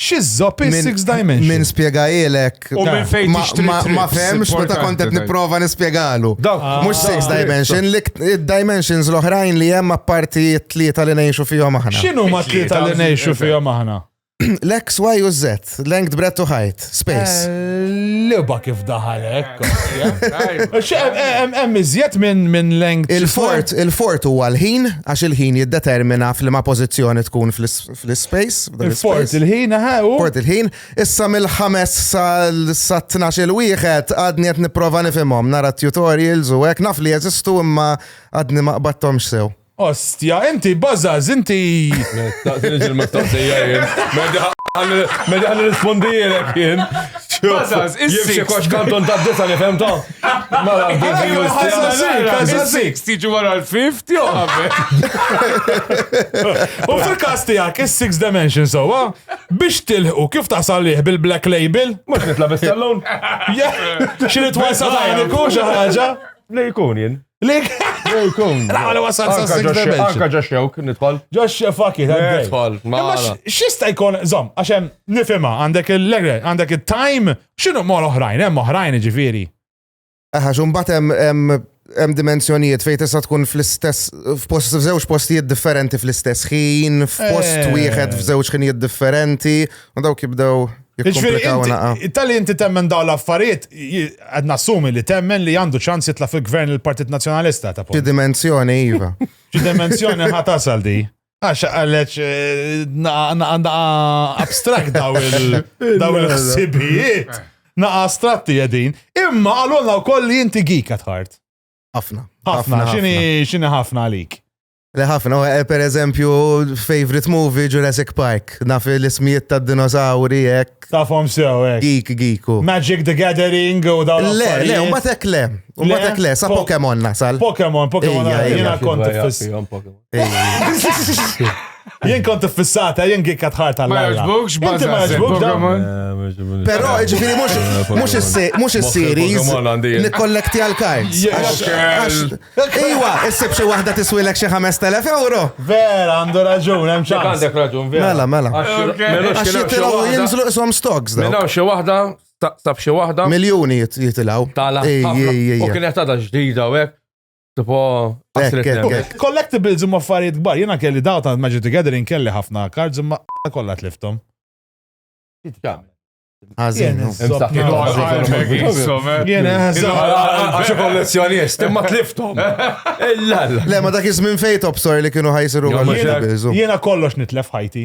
Xizzob il six dimension. Min spiegajilek. U minn fejn Ma fehmx meta kont qed nipprova nispjegalu. Ah, Mhux six dimension, id-dimensions l-oħrajn li hemm apparti t-tlieta li ngħixu fihom aħna. X'inhu ma tlieta li ngħixu fihom aħna? L-X, Y u Z, length, breadth u height, space. Eh, Liba kif daħal hekk. Hemm iżjed minn minn length. Il-fort, il-fort huwa l-ħin għax il-ħin jiddetermina f'liema pożizzjoni tkun fl-space. Fort il-ħin, ħew. Fort il-ħin. Issa mill-ħames sa 12 il-wieħed għadni qed nipprova nifhimhom nara tutorials u hekk naf li jeżistu imma għadni ma qbadthomx sew. Ostja, inti bażaż, inti. Taqtilix il-mistoqsija jien. Medi ħan rispondi jien. Bażaż, issi. Jibxi kox kanton ta' disa li femtom. Mela, bil-6 tiġi wara l-5 tiegħu qabel. U fil-każ tiegħek is-6 dimension sewwa biex tilħu kif tasal lih bil-black label? Mhux nitla' bis-sallun. Xi li twasal għaliku xi ħaġa? Li jkun jien. Li jkun. Għala wasal sa' 6 dimension. Anka ġaxxewk nidħol. Ġaxxew fakki, nidħol. Xista jkun, zom, għaxem nifima, għandek il-legre, għandek il-time X'inhu mor oħrajn, hemm oħrajn jiġifieri. Aha, xum batem hemm dimensjonijiet fejn tista' tkun fl-istess f'post f'żewġ postijiet differenti fl-istess ħin, f'post eh. wieħed f'żewġ ħinijiet differenti, u dawk jibdew jiġifieri Tal-li inti temmen daw l-affarijiet, qed nassumi li temmen li għandu ċans jitla' fil-gvern il-Partit Nazzjonalista ta' Xi dimensjoni iva. Xi dimensjoni ħatasal di. Għax għalleċ għanda eh, abstract daw il-ħsibijiet. Naqa astratti għedin. Imma għalonna u koll li jinti gik għatħart. Għafna. Għafna, xini xini ħafna għalik. Le ħafna, eh, per eżempju, favorite movie Jurassic Park. Naf l-ismijiet ta' dinosauri ek. Tafom sew ek. Geek, geeku. Magic the Gathering u daw. Le, le, u batek le. U batek le, sa Pokemon nasal. Pokemon, Pokemon, jina konti fis. Jien kont fissata, jien gikka tħart għal. Ma jaġbux, Inti ma jaġbux dawn. Eh, Però, ġifiri, mux il-series, nikkollekti għal-kards. Iwa, issib xie wahda tiswilek xie 5.000 euro. Vera, għandu raġun, hemm ċans. Għandek raġun, vera. Mela, mela. Għax jitilaw jinżlu isom stocks. Mela, xie wahda, taqsab xie wahda. Miljoni jitilaw. Tala. U kienet għada ġdida, u Tipo, Collectibles imma affarijiet kbar, jena kelli daw ta' Magic the Gathering kelli ħafna cards imma kollha tliftom. Għazin. Jena, għaxu kollezzjonist, imma tliftom. Le, ma dak iż-żmien fejn top story li kienu ħajsiru Jena kollox nitlef ħajti.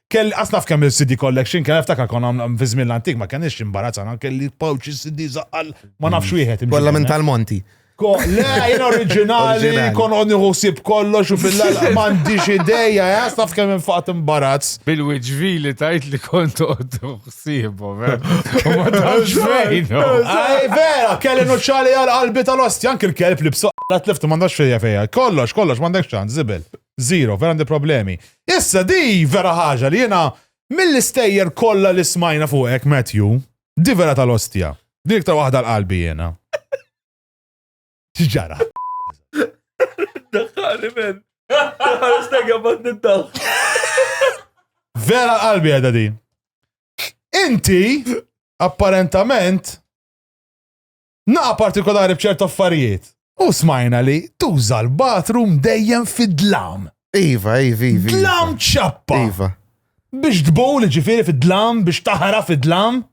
Kelli qas naf kemm il-CD collection kien niftakar kon għamlu fi żmien l-antik ma kenniex imbarazzana kelli pouch CD zaqqal ma nafx wieħed. imġiben, Kollha minn eh. tal-Monti. Ko- Le, jien oriġinali, Oriġinali. kon għodni ħusib kollox u fil-lala m'għandix ideja, eh, qas naf kemm infaqt imbarazz. Bil-wiġvi li tajt li kont għoddu xsibu, eh. U ma tafx fejn. oh. Ej, vera, kelli nuċċali għal qalbi tal-osti, anki l-kelb li b'soqqa tliftu m'għandax fejja fejja. Kollox, kollox, m'għandek ċans, zibel. Zero, vera għandi problemi. Issa di vera ħaġa li jiena mill-istejjer kollha li smajna fuqek Matthew, di vera tal-ostja. Di iktar waħda l-qalbi jiena. X'ġara? Daħħali men. Daħħali stegja bat nintaħ. Vera qalbi għedha di. Inti, apparentament, Naqa' partikolari b'ċert affarijiet. U smajna li tuża l-bathroom dejjem fid-dlam. Iva, iva, iva. Dlam ċappa. Iva. Biex tbul ġifiri fid-dlam, biex taħra fid-dlam.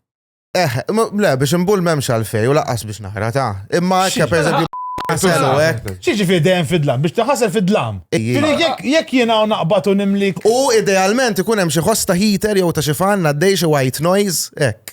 Eh, le, biex imbul memx għalfej u laqqas biex naħra ta' imma ekka per eżempju Għaselu, ek. Xieġi fi dejjem fid-dlam, biex taħasel fid-dlam. Jek jena u naqbat u nimlik. U idealment ikun hemm xi ħosta heater jew ta' xi fan għaddej xi white noise, ek.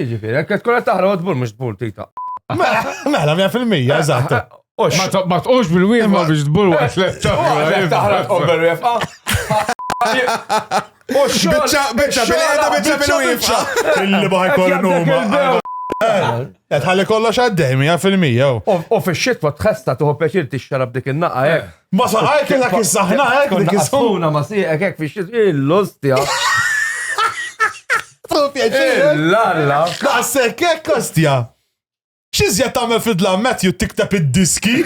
Jiġifieri, jekk tkun qed taħraq tbur mhux tbur tita. Mela, mela fil-mija, eżatt. Ma tqux bil-wieħma biex tbur waqt l-ettaħraq. Taħraq tqobber wieħma. Biċċa, biċċa, bil-qiegħda biċċa bil-wieħma. Illi baħi kollu huma. Tħalli kollox għaddej, mija fil-mija. U fil-xitwa tħesta tuħu peċir tixxarab dik il-naqa, eh. Ma sa għajk dak iż-żaħna hekk dik iż-żona ma sieqek hekk fix l-ostja. L-alla. Daqshekk hekk ostja. X'izja tagħmel fid-dlam Matthew tikteb id-diski?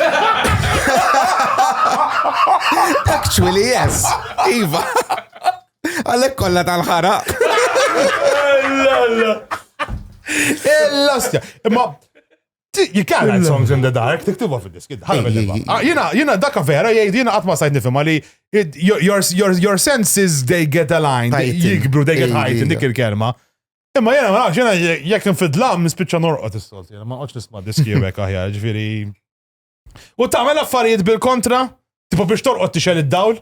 Actually, yes. Iva. Għalek kolla tal-ħara. Ella, ella. Ella, Imma You can't write songs in the dark, tiktibu fil-disk. Ah, jina, jina, daka vera, jgħid, jina għatma sajt nifima li your senses, they get aligned, jikbru, they get heightened, dik il-kelma. Imma jena, ma jena, jek nfidlam, nispicċa norqot is-solt, jena, ma għoċ nisma diski jibek aħjar, ġviri. U tamel affarijiet bil-kontra, tipo biex torqot tixel id-dawl?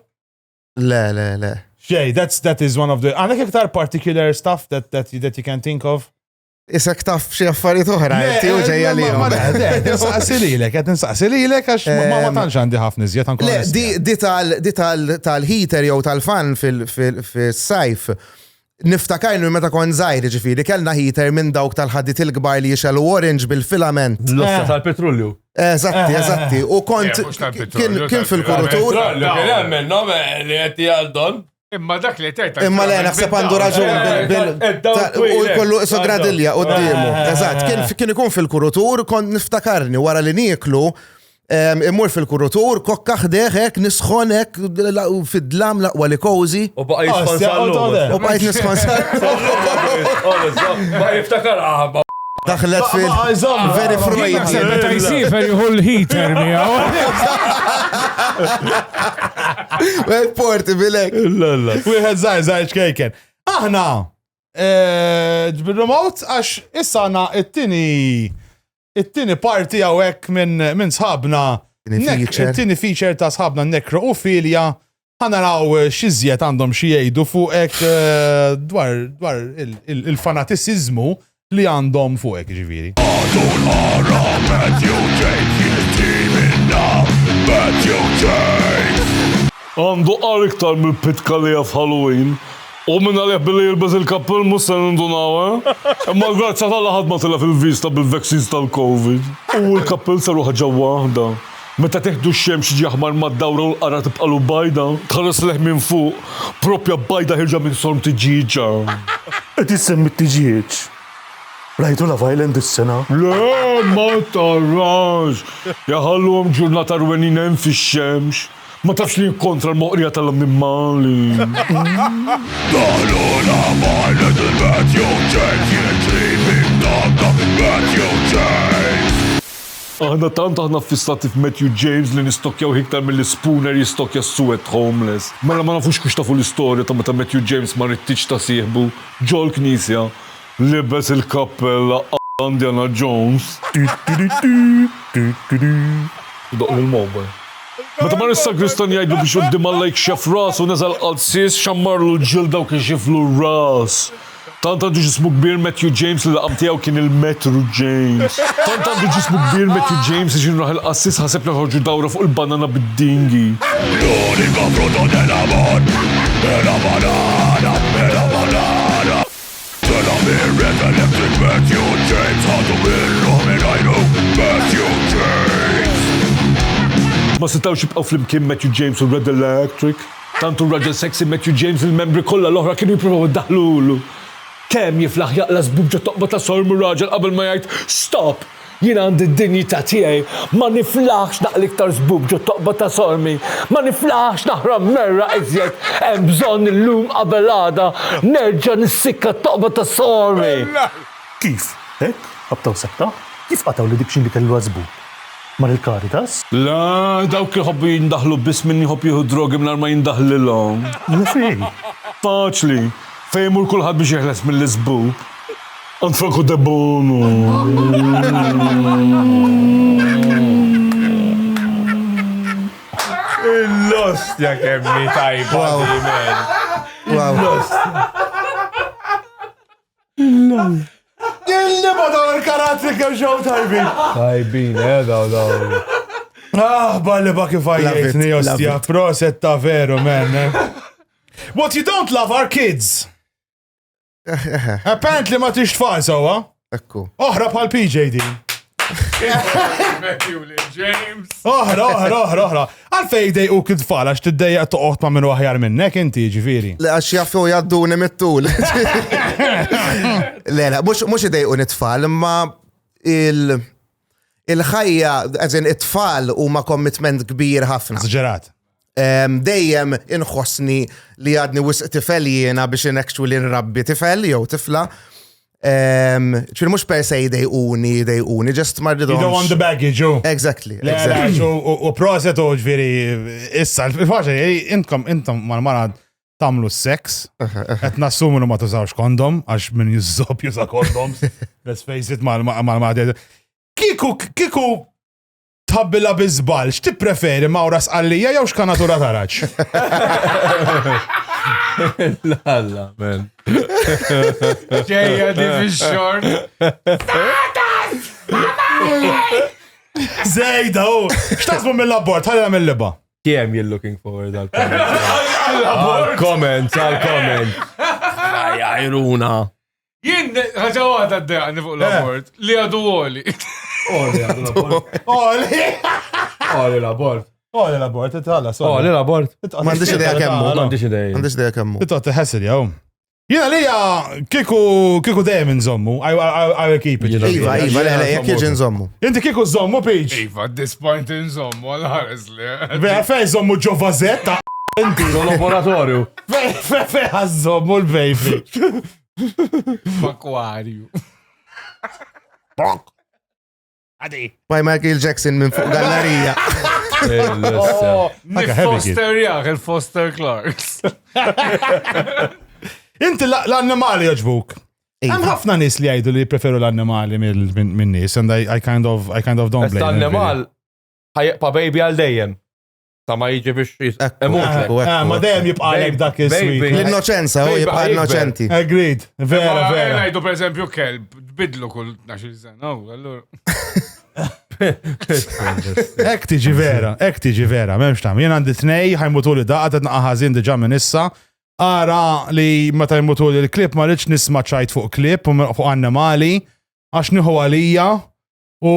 Le, le, le. Xej, that's, that is one of the, għanek iktar particular stuff that, that, that you can think of? Isek taf xi affarijiet oħra, inti u ġejja li jom. Nsaqsi lilek, qed nsaqsi lilek għax ma ehm, tantx għandi ħafna iżjed anke. Le, di tal-heater jew tal-fan fil-sajf. Niftakar li meta kon zaħir ġifiri, kellna heater minn dawk tal-ħaddit il-gbar li jixelu orange bil-filament. L-ossa eh. tal-petrolju. Eżatti, eh. eżatti. U kont eh, kien fil-kurutur. Petrolju, kien għamil, no, li għetti għaldon. Imma dak li tgħid. Imma le naħseb għandu raġun bil u jkollu isu gradilja qudiemu. Eh. Eżatt, kien ikun fil-kurutur kont niftakarni wara li nieklu immur fil-kurutur, kokka ħdeħek, nisħonek, fid-dlam laqwa li kozi. U baqa jisħon ah, U baqa jisħon sal. Baqa jiftakar għabba. Ah, Daħlet fil. Veri Freud. Naħseb meta jsifer jieħu l-heater miegħu. Well, porti bilek. Wieħed żgħir żgħir ċkejken. Aħna eh, bil-remote għax issa għandna it-tieni it-tieni parti hawnhekk minn minn sħabna Tini Nek- feature. it-tieni feature ta' sħabna Nekro u Filja Ħa naraw x'iżjed għandhom xi jgħidu fuqek dwar dwar il-fanatiċiżmu li għandhom fuqek ġifieri. Għandu qar iktar mill pitka li jaf Halloween. U minn għalih billi jilbez il-kappell mhux se nindunaw, eh? Imma l-grazza tal-laħad ma tilef il-vista bil-vaccines tal-Covid. U l-kappell saruħ ġewwa waħda. Meta teħdu x-xemx jiġi aħmar mad-dawra u l-qara tibqalu bajda, tħares lejh minn fuq, proprja bajda ħierġa minn sorm tiġieġa. Qed issemmi t-tiġieġ? Rajtu Love Island dis-sena? Le, ma tarax! Iħalluhom ġurnata rwenin hemm fix-xemx. Ma tafx li hi kontra l-moqrija tal-annimali. Daħlu Love Island il-Matthew James jitri minn dawk ta' Matthew James. Aħna tant aħna ffissati f'Matthew James li nistokkjaw hiktar milli Spooner jistokkja s-suwed homeless. Mela ma nafux kux tafu l-istorja ta' meta Matthew James ma ried tiġ ta' sieħbu ġol-knisja, libes il-kappella alla Indiana Jones. Idoqqlu l-mobile. Meta mar is-sagristan jgħidlu biex quddiem Alla jikxef rasu neżel qalsies, xammarlu l-ġilda u kixiflu r-ras. Tant għandu ġismu kbir Matthew James li l-laqam tiegħu kien il-Metru James. Tant għandu ġismu kbir Matthew James li xi raħ il-qassis ħaseb li ħorġu dawra fuq il-banana bid-dingi. L-unika frutta dell-amor è la banana, è la banana. Tela' mir-red electric Matthew James ħadu minnu minn għajnu Matthew James. Ma setgħux jibqgħu flimkien Matthew James u r-red electric. Tant hu raġel sexy Matthew James li l-membri kollha l-oħra kienu jippruvaw iddaħħlulu. Temm jiflaħ jaqla' żbub ġo toqba ta' Sormu r-raġel qabel ma jgħid, Stop! Jiena għandi d-dinjità tiegħi. Ma niflaħx naqli iktar żbub ġo toqba ta' Sormi. Ma niflaħx naħram merra iżjed. Hemm bżonn illum qabel għada nerġa' nissikka t-toqba ta' Sormi! Kif? Hekk? Qabtaw sekta? Kif qatgħu li dik xi li kelluha żbub? mar il-Caritas. Le, dawk iħobbu jindaħlu biss min jħobb jieħu d-drogi mingħajr ma jindaħlilhom. Le fej? Faċli, fejn imur kulħadd biex jeħles mill-iżbub. Għand Franco Debono. Il-lostja kemm hi tajba, Wow. Wow. Il-lostja. Dilli ma daw il-karatri kemm xew tajbin. Tajbin, eh, daw daw. Ah, balli ba kif għajjitni, ostja, proset ta' veru, men. Eh. What you don't love are kids. Eh, eh, Apparently ma tix tfal sawa. Ekku. Oħra bħal PJ din. Oħra, oħra, oħra, oħra. Għalfej dej u kid tfal għax tiddejja toqgħod ma' minnu aħjar minnek inti ġifieri. Le għax jaffu jaddu nimittul. Le, le, mux idej u nitfall, imma il- il-ħajja, għazin it-tfal u ma commitment kbir ħafna. Zġerat. dejjem inħossni li għadni wisq tifel jiena biex inekxu li nrabbi tifel jew tifla. ċir mux per se jdejquni, jdejquni, just marri You don't want the baggage, you. Exactly. U proset u ġviri, issa, il-faċa, intom, intom, mal-marad, tamlu s-seks, et nassumu li ma tużawx kondom, għax minn jizzob juża kondom, let's face it, mal-marad. Kiku, kiku, Tħabbilha bi żball, x'tippreferi mawra sqallija jew xkanatura taraġ? Lalla, men. Ġejja di fix-xort. Zejda, u x'tasbu mill-abort, ħallina mill-liba. Kiem you're looking forward għal comment. Għal comment, għal comment. Għajruna. Jien ħaġa waħda d-dejqni fuq l-abort eh. li għadu għoli. Għoli għadu l-abort. Għoli. Għoli l-abort. Għoli l-abort, itħalla, sorry. Għoli l-abort. Mandiċ ideja kemmu. Mandiċ ideja. Mandiċ ideja kemmu. Itqot teħessil jaw. Jena li ja kiku kiku dejjem nżommu, għaj keep it. Iva, iva, le, jek jieġi nżommu. Inti kiku nżommu, Peach. Iva, at this point nżommu, għal-ħares li. Beħa fej nżommu ġo vazetta. Inti. L-laboratorju. Fej, fej, fej, nżommu l-bejfi. F'akwarju. Bonk! Għadi. By Michael Jackson minn fuq gallerija. Oh, Foster jaħ, il-Foster Clarks. Inti l-annimali joġbuk. Hemm ħafna nies li jgħidu li preferu l-annimali minn nies and I, I kind of I kind of don't blame. L-annimal ħajqpa baby għal dejjem. Ta' ma jiġi biex jisqemut. Ma dejjem jibqa' għalek dak il-sweet. L-innoċenza, u jibqa' innoċenti. Agreed. Vera, vera. Għajdu per eżempju kelb, bidlu kull 12 sena, u għallur. Ek tiġi vera, ek tiġi vera, memx tam. Jien għandi tnej, ħajmutu li daqqa, t ħażin diġa minn issa. Ara li meta jmutu li l-klip ma rridx nisma ċajt fuq klip u fuq annimali, għax nieħu għalija u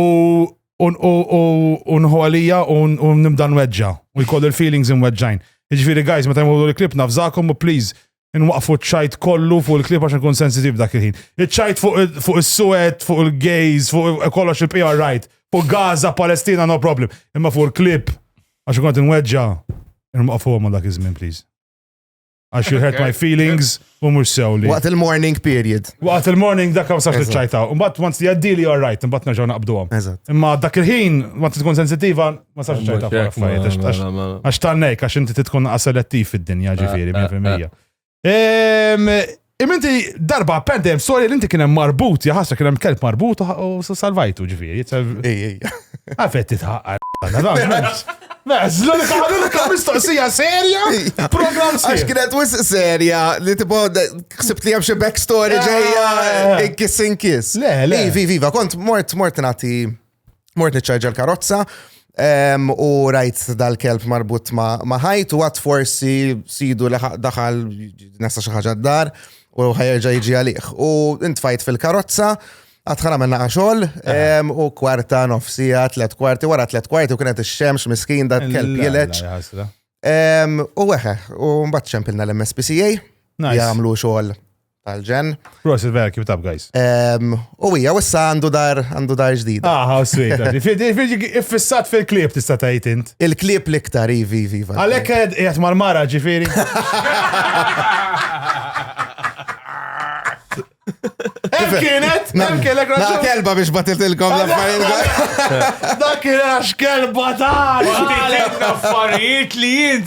unħu għalija u nibda nweġġa u jkollu l-feelings nweġġajn. Iġviri, guys, meta jmurru l-klip nafżakom u please, nwaqfu ċajt kollu fuq il-klip għax nkun sensitiv dak il-ħin. Iċajt fuq il-suet, fuq il-gays, fuq kollox il-PR right, fuq Gaza, Palestina, no problem. Imma fuq il-klip, għax nkun għat nweġġa, nwaqfu għamma dak iż-żmien, please. Għax you hurt my feelings u mux sewli. Waqt il-morning period. Waqt il-morning dak għaw sax ċajta. Mbatt, once the għaddili all right, mbatt nerġaw naqbdu għom. Imma dak il-ħin, ma tkun sensitiva, ma sax ċajta Għax tannek, għax inti titkun selettiv fid-dinja ġifiri, 100%. Imma inti darba apparently hemm storja li inti kien hemm marbut, ja ħasra kien hemm kelb marbut u s- salvajtu ġifieri. Ej, ej. Għalfejn titħaqqar. Meżlu li taħdilek mistoqsija serja, program Għax serju. kienet wis serja li tipo de- ksibt li hemm xi backstory Ah. ġejja eh, kiss in kiss. Le, le. Ivi, viva, kont mort mort nagħti Mort niċċarġa l-karozza ehm, u rajt dal-kelb marbut ma' ħajt u għat forsi sidu li daħal nasa xaħġa d-dar u ħajerġa jġi għalih. U intfajt fil-karozza għatħan għamilna għaxol ehm, u kwarta nofsija, tlet kwarti, wara tlet kwarti u kienet il-xemx miskin da kelb jileċ. Ehm, u għeħe, u mbatt ċempilna l-MSPCA, jgħamlu xol tal-ġen. Prosit vera kif tab, guys. U hija wissa għandu dar għandu dar ġdida. Ah, how sweet. Ġifieri iffissat fil-klieb tista' tgħid int. Il-klieb l-iktar ivi ivi. Għalhekk qiegħed mal-mara ġifieri. Hemm kienet, hemm kienet. Na kelba biex batiltilkom l-affarijiet. Dak kien għax kelba ta' affarijiet li jint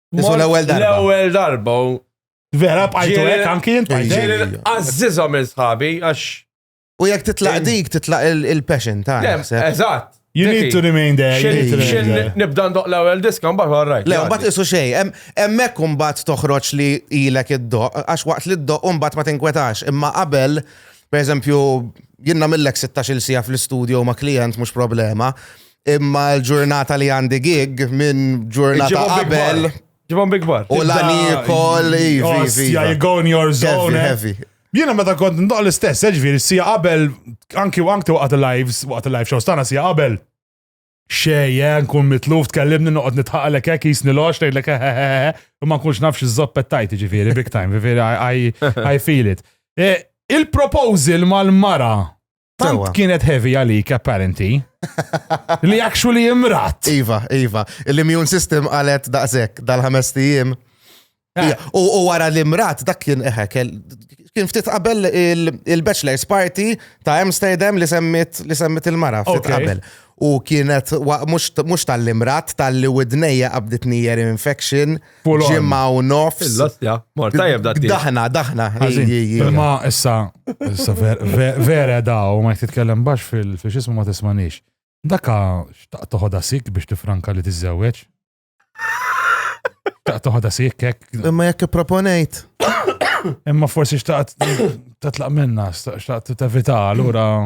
Isu l-ewwel darba. L-ewwel darba. Vera bqajtu hekk anki jien bqajt. Għażiżha minn sħabi għax. U jekk titlaq dik titlaq il-passion ta' Eżatt. You need to remain there. Nibda ndoq l-ewwel diska mbagħad wara rajt. Le mbagħad isu xejn, hemmhekk mbagħad toħroġ li ilek id-doq għax waqt li d-doq mbagħad ma tinkwetax, imma qabel pereżempju jinnamillek 16-il sija fl-istudio ma' klient mhux problema. imma l-ġurnata li għandi gig minn ġurnata qabel. Ġibom big bar. U l-għani kol, ivi. Ja, you go in your zone. Heavy, heavy. Jiena meta kont ndoq l-istess, eh, ġviri, sija qabel, anki u anki waqt il-lives, waqt il-live shows tana sija qabel. Xej, eh, nkun mitluf, tkellimni noqgħod nitħaqalek hekk jisni lox tgħidlek hehehe, u ma nkunx nafx iż-żoppet tajt ġifieri big time, ġifieri I feel it. Eh, il-proposal mal-mara Tant kienet heavy għalik apparenti. li actually imrat. Iva, iva. L-immune system għalet daqsek dal-ħames tijiem. Eh. U wara li mrat dak kien eħe, kien ftit qabel il-bachelor's party ta' Amsterdam li semmit li semmit il-mara ftit qabel. U kienet mux tal-imrat tal-li widnejja qabditni year infection. ġimma u nofs. L-ostja, morta jibda t Daħna, daħna. Ma issa, issa vera da u ma jitkellem bax fil-xismu ma tismanix. Daka xtaq toħoda sik biex tifranka li tiżżewweġ. Xtaq toħoda sik kek. Imma jekk proponejt. Imma forsi xtaqt tatlaq minna, xtaqt tevita, allura.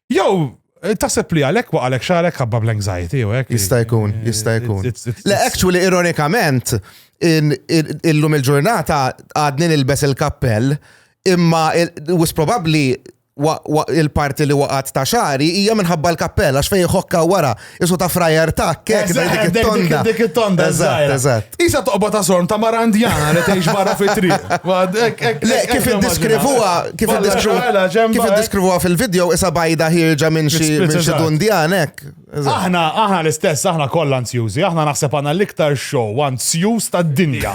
Jew eh, taħseb li għalek waqalek xarek ħabba bl-anxiety u hekk. Jista' jkun, eh, jista' jkun. It's- it's- Le, actually, ironikament, in- in- illum il-ġurnata għadni nilbes il-kappell, imma il- wis probabbli wa- wa- il-parti li waqgħet ta' xari hija minħabba l-kappell, għax fejn ħokka wara Isu ta' frajer ta' kek, dik it-tonda. Dik it-tonda, eżatt, eżatt. Isa toqba ta' sorm ta' marandjana li tgħix barra fi triq. Kif id-diskrivuha, kif id-diskrivuha, kif id-diskrivuha fil-video, isa bajda ħirġa minn xi dundjanek. Aħna, aħna l-istess, aħna kollha ansjużi, aħna naħseb għandna l-iktar show ansjuż tad-dinja.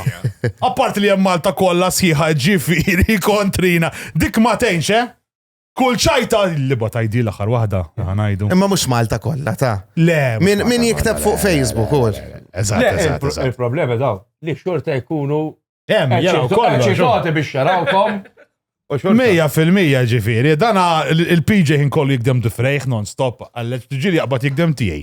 Apparti li hemm Malta kollha sħiħa ġifieri kontrina. Dik ma tgħinx, eh? Kull ċajta li ba tajdi l-aħħar waħda, ħanajdu. Imma mhux Malta kollha ta. Le. Min jikteb fuq Facebook u. Eżatt. Il-problema daw li xorta jkunu. Hemm jaraw kollha. Ċikoti biex jarawkom. Mija fil-mija ġifiri, dana il-PJ ħin kollu jikdem difrejħ non-stop, għalleċ tġili jaqbat jikdem tijaj.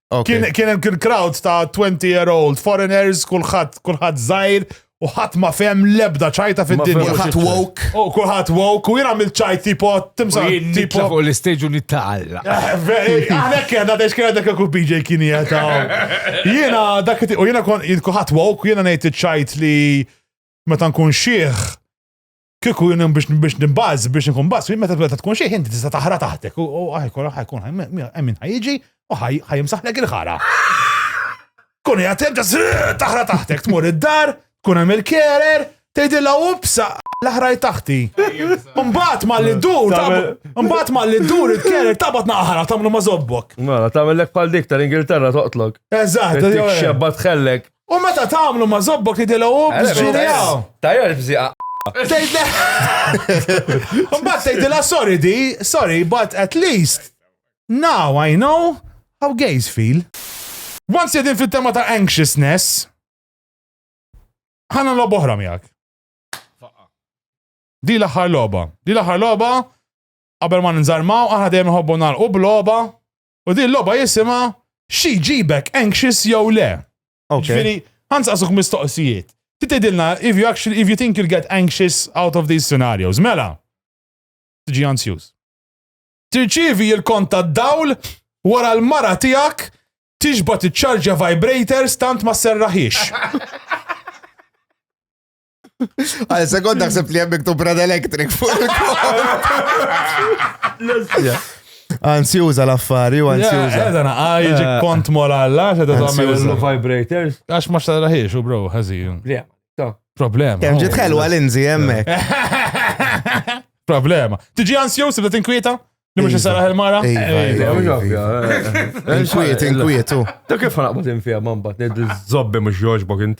Kien hemm kien crowd ta' 20 year old, foreigners, kulħadd kulħadd żgħir, u ħadd ma fem lebda ċajta fid-dinja. Kulħadd woke. U kulħadd woke, u jien għamil ċajt tipo timsa. Tipo fuq l-istage u nittaqalla. Għalek kien għadda xkien għadda kaku BJ kien jgħata. Jiena dak u jiena kon kulħadd woke, jiena ngħid iċ-ċajt li meta nkun xieħ Kieku jien hemm biex biex nibbaż biex inkun baż, jien meta tbeda tkun xi ħin tista' taħra taħtek u u ħajkun ħajkun hemm min ħajjiġi u ħaj ħajimsaħlek il-ħara. Kun hija hemm ġas taħra taħtek tmur id-dar, tkun hemm il-kerer, tgħidilha upsa l-aħraj taħti. Mbagħad ma li dur, Tagħmel- mbagħad ma li dur il-kerer tabat naħra tagħmlu ma żobbok. Mela, tagħmel lek bħal dik tal-Ingilterra toqtlok. Eżatt, Tik xebba tħellek. U meta tagħmlu ma' zobbok jidilgħu biex ġirjaw. Tajja l-fżiqa. Mbagħad tgħidilha sorry di, sorry, but at least now I know how gays feel. Once jedin fit-tema ta' anxiousness, ħana lob oħra miegħek. Di l-aħħar logħba. Di l-aħħar logħba qabel ma ninżarmaw aħna dejjem nħobbu nagħlqu b'logħba U din logħba jisimha xi ġibek anxious jew le. Ġifieri, ħanz qasuk mistoqsijiet. Ti tgħidilna if you actually if you think you'll get anxious out of these scenarios. Mela. Tiġi ansjuż. Tirċivi il-kont tad-dawl wara l-mara tiegħek tixba tiċċarġja vibrators tant ma serraħiex. Għal sekond naħseb li jemmik tu Brad Electric fuq il-kol. Anzi uża l-affari u anzi uża. Għedha eh, naqa jġi eh. kont mola għalla, xedha tagħmel il-vibrators. Għax ma xtaraħiex u bro, ħażin. Problem. Kem ġiet ħelwa l-inzi hemmhekk. Problema. Tiġi ansjuż li tinkwieta? Li mux jisaraħ il-mara? Inkwiet, inkwiet, u. Ta' kif ħanaqbat infija man bat, nid zobbi mux joġbok int.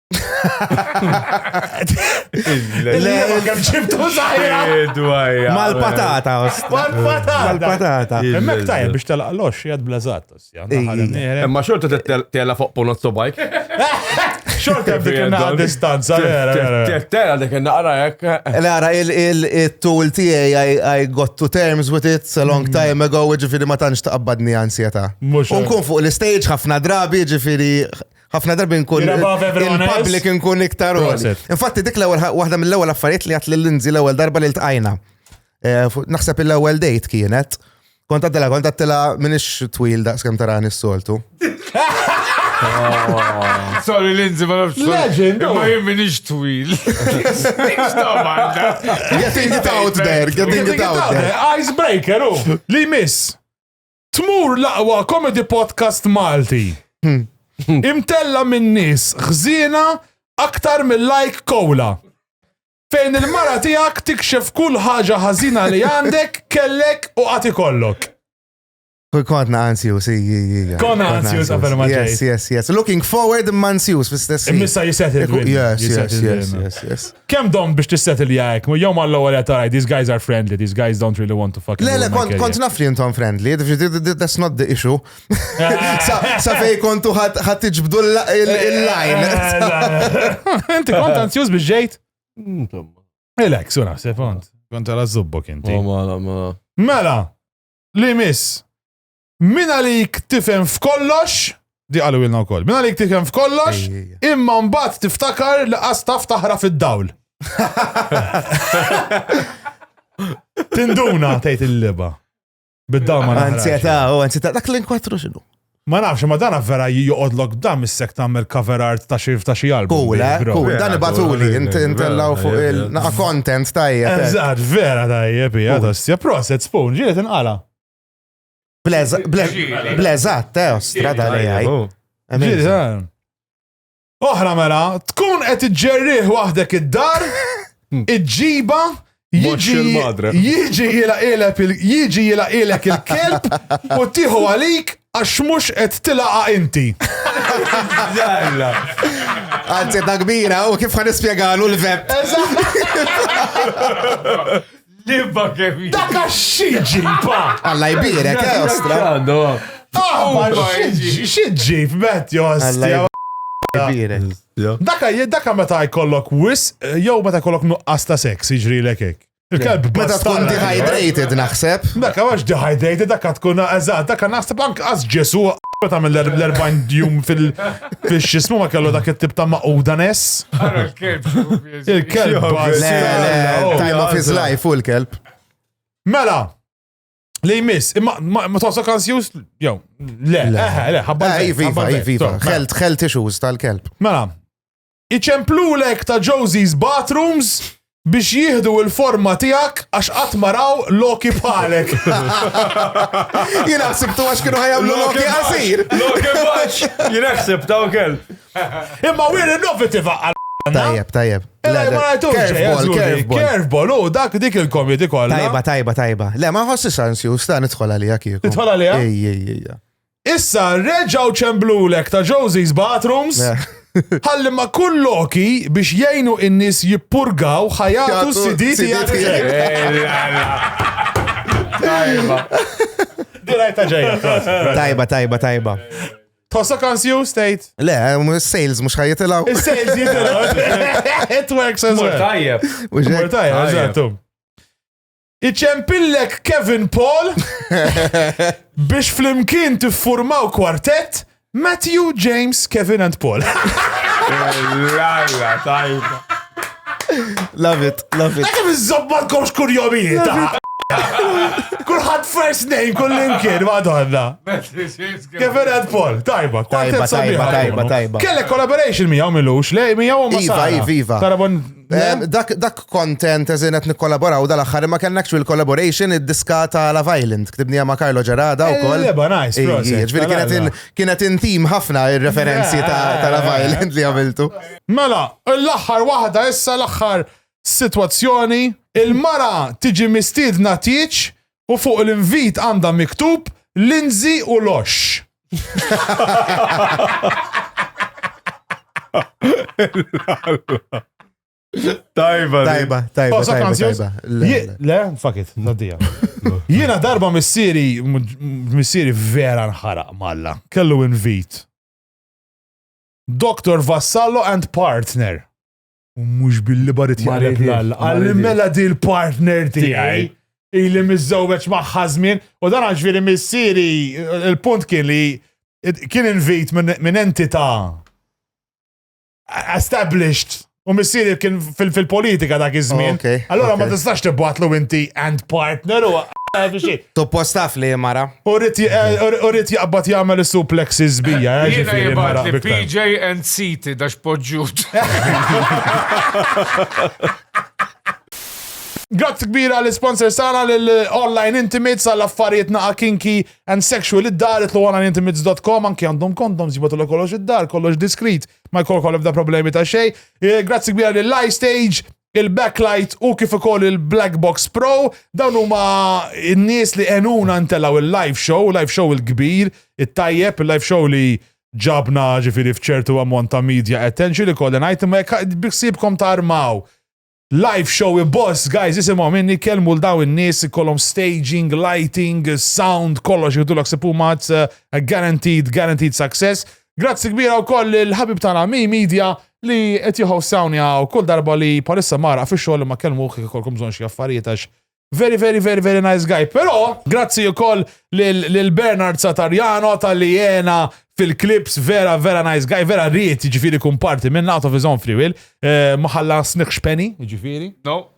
Mal-patata. Mal-patata. Emmek tajja biex telaq lox jad blazat. Imma xorta tela fuq punot sobajk. Xorta b'dik naqa distanza. Tela dik naqra jek. Lara, il-tool tijaj I got to terms with it a long mm. time ago, ġifiri ma tanċ taqbadni ansjeta. Unkun fuq l-stage ħafna drabi, ġifiri ħafna darbi nkun il-public nkun iktar għoli. Infatti dik l-ewwel waħda mill-ewwel affarijiet li għat lil Lindsay l-ewwel darba li ltqajna. Eh, naħseb il-ewwel date kienet. Kont għaddela, kont għaddela minix twil daqs kem tarani s-soltu. Sorry, Lindsay, ma nafx. Legend! Ma jien minix twil. Getting it out there, getting it out there. Icebreaker, u, oh. li miss. Tmur l-aqwa comedy podcast Malti. Imtella minn nies ħżiena aktar mill-like kowla. Fejn il-mara tiegħek tikxef kull ħaġa ħażina li għandek, kellek u għati kollok. Kull kontna ansius, ija. Konna ansius għabel ma Yes, yes, yes. Looking forward imma ansius fl-istess. Immissa jiset il-win. Yes, yes, yes, yes. Kemm domt biex tissetilja hekk? Jew mal-ewwel qed tara these guys are friendly, these guys don't really want to fucking Le, le, ruin my kont, career. kont naf li intom friendly, th- th- th- that's not the issue. sa, sa fej kontu ħat ħat tiġbdu l- il- il-line. Eh, Inti kont anzjuż biex ġejt? Insomma. Relax, u naħseb kont. Kont għala zubbok inti. Oh, ma, ma. Mela, li miss. Min għalik tifhem f'kollox, di qalu ilna wkoll. Min għalik tifhem f'kollox, imma mbagħad tiftakar li qas taf taħra fid-dawl. Tinduna tgħid il-liba. Bid-dawl ma naħrax. Anzjeta, u anzjeta, dak l-inkwatru xinu. Ma nafx, ma dana vera joqodlok dam is-sek tagħmel cover art ta' xi ta' xi album. Cool, eh? Cool, dan ibatuli, intellaw fuq il-naqa content tajjeb. Eh. Eżatt, vera tajjeb, hija ta' proset spoon, ġiet inqala. Bleżat, tew, strada li għaj. Oħra mela, tkun qed iġġerrih waħdek id-dar, iġġiba, jiġi jilaqilek il-kelb u tiħu għalik għax mux qed tilaqa inti. Għanzi ta' kbira u kif għan ispiegalu l-vep. Libba kemm jiġi. Dak xieġi, pa! Alla jbirek, eh, ostra. Aħbar xieġi, f'met, jostra. Daka, daka meta jkollok wis, eh, jew meta jkollok nuqqas ta' seks, jiġri l ekek. Il-kelb meta tkun dehydrated naħseb. Daka għax dehydrated, daka tkun eżat, daka naħseb anke għaz ġesu ta' mill 40 jum fil-xismu ma kellu dak it-tip ta' maquda nes. Il-kelb bażi. Le, le, time of his life u l-kelb. Mela, li jmiss, imma ma- ma tħossok ansjus? Jew, le, Le. eħe, le, ħabba Eh, l-bejt, Iva, ħabba Iva, l-bejt. Iva, Iva. Sorry, mela. Health, health issues tal-kelb. Mela, iċemplulek ta' Josie's bathrooms biex jihdu il-forma tijak għax għatmaraw loki bħalek. Jina ħsibtu għax kienu ħajamlu loki għasir. Loki baċ! Jinaħseb ta' ukel. Imma we're innovative għal Tajjeb, tajjeb. Curveball, u dak dik il-komedi kollha. Tajba, tajba, tajba. Le, ma nħossi sansi, u sta nidħol għalija kieku. Nidħol għalija? Ej, ej, ej. Issa, reġaw ċemblulek ta' Josie's Bathrooms. Ħalli ma kull loki biex jgħinu in-nies jippurgaw ħajatu s-siditi Tajba. Dirajta ġejja. Tajba, tajba, tajba. Tossa confused, tgħid? Le, sales mhux ħajjitilgħu. Is-sales jitilgħu. It works as well. Tajjeb. Mur tajjeb, eżattu. Iċempillek Kevin Paul biex flimkien tiffurmaw kwartett Matthew, James, Kevin and Paul. Lalla, tajba. Love it, love it. Għakem iż-zobba komx kurjomijiet. Kulħat first name, kull imkien, madonna. Kevin and Paul, tajba, tajba, tajba, tajba, tajba. Kelle collaboration miegħu milux, le miegħu u Iva, iva, iva. Eh, dak dak content eżin qed nikkollaboraw dal-aħħar imma kellna actual collaboration id-diska ta' Love Island, ktibnija ma' Carlo Ġerada eh, wkoll. Leba nice, Ġifieri kienet kienet intim ħafna ir-referenzi ta' Love eh. Island li għamiltu. Mela, l-aħħar waħda issa l-aħħar sitwazzjoni il-mara tiġi mistiedna tieċ u fuq l-invit għandha miktub Lindsay u Lox. Tajba. Tajba, tajba. Oh, tajba, tajba. Le, fakit, naddija. Jiena darba missieri, missieri vera nħaraq malla. Kellu invit. Dr. Vassallo and partner. U mhux billi barit jaqlek l-alla. Għalli mela di l-partner tiegħi. Ili miżżewweġ magħha żmien. U dan għax veri missieri, il-punt kien li kien invit minn entità established U missieri kien fil-politika dak iż-żmien. Allora ma tistax tibbatlu inti and partner u xi. Suppost taf li mara. U rrit eh, jaqbad jagħmel is-suplexi żbija, eh, Jiena ġifieri jibat mara li big time. PJ and City dax poġġut. Grazzi kbira għal sponsor sana l-online intimates għall affarijiet naqa kinky and sexual id-dar itlu onlineintimates.com anki għandhom kondoms jibatu l kollox id-dar, kollox diskrit, ma jkollok għal ebda problemi ta' xej. Eh, Grazzi kbira l-Live Stage, il-backlight u kif ukoll il-Black Box Pro, dawn huma n-nies li għenuna ntelaw il-live show, live show il-kbir, it-tajjeb, il-live show li ġabna ġifiri fċertu ammont ta' media attention li kolli ngħid imma jekk biksibkom tarmaw. Live show boss guys isimgħu minni kelmu l daw in-nies ikollhom staging, lighting, sound, kollox jgħidulok sipumazz, eh, guaranteed, guaranteed success. Grazzi kbira wkoll il-ħabib tagħna Mi Media li qed jħossawni għaw kull darba li palissa mara fi xogħol ma kelmu kif ikolkom bżonn xi affarijiet għax very very very very nice guy. Però grazzi wkoll lil Bernard Satarjano tal-li jena fil-klips vera vera nice guy, vera rrit ġifiri kumparti minn out of his own free will, eh, maħalla sniħx penny ġifiri. No.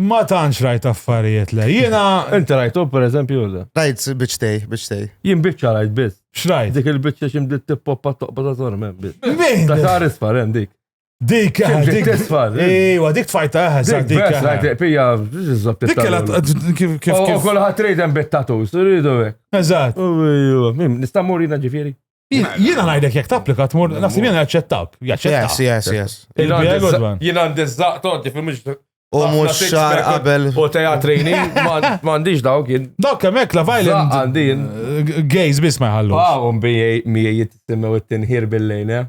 Ma tantx rajt affarijiet le. Jiena. Inti rajtu per eżempju le. Rajt biċtej, biċtej. Jien biċċa rajt biss. X'rajt? Dik il-biċċa xi bdiet tippoppa toqba ta' żor mem biss. Min? Ta' xar isfar hemm dik. Dik eh, dik tisfar. Iwa, dik tfajta eh, sa dik. Bes, rajt eh. pija, ġizzot. Dik kella kif kif. U kolħat rejden bit-tatus, rridu. Eżatt. Nistamurina ġifieri. Jiena ngħidlek jekk tapplika tmur naħseb jiena jaċċettak. Jaċċettak. Yes, yes, yes. Jiena għandi żaqt għandi fil U mux xar qabel. U teja trejni, mandiġ dawk jien. Dawk kemmek la violent. Għandin. Eh, Gays bis ma jħallu. Għawum ah, miej jittimmew it-tinħir bil-lejn, eh?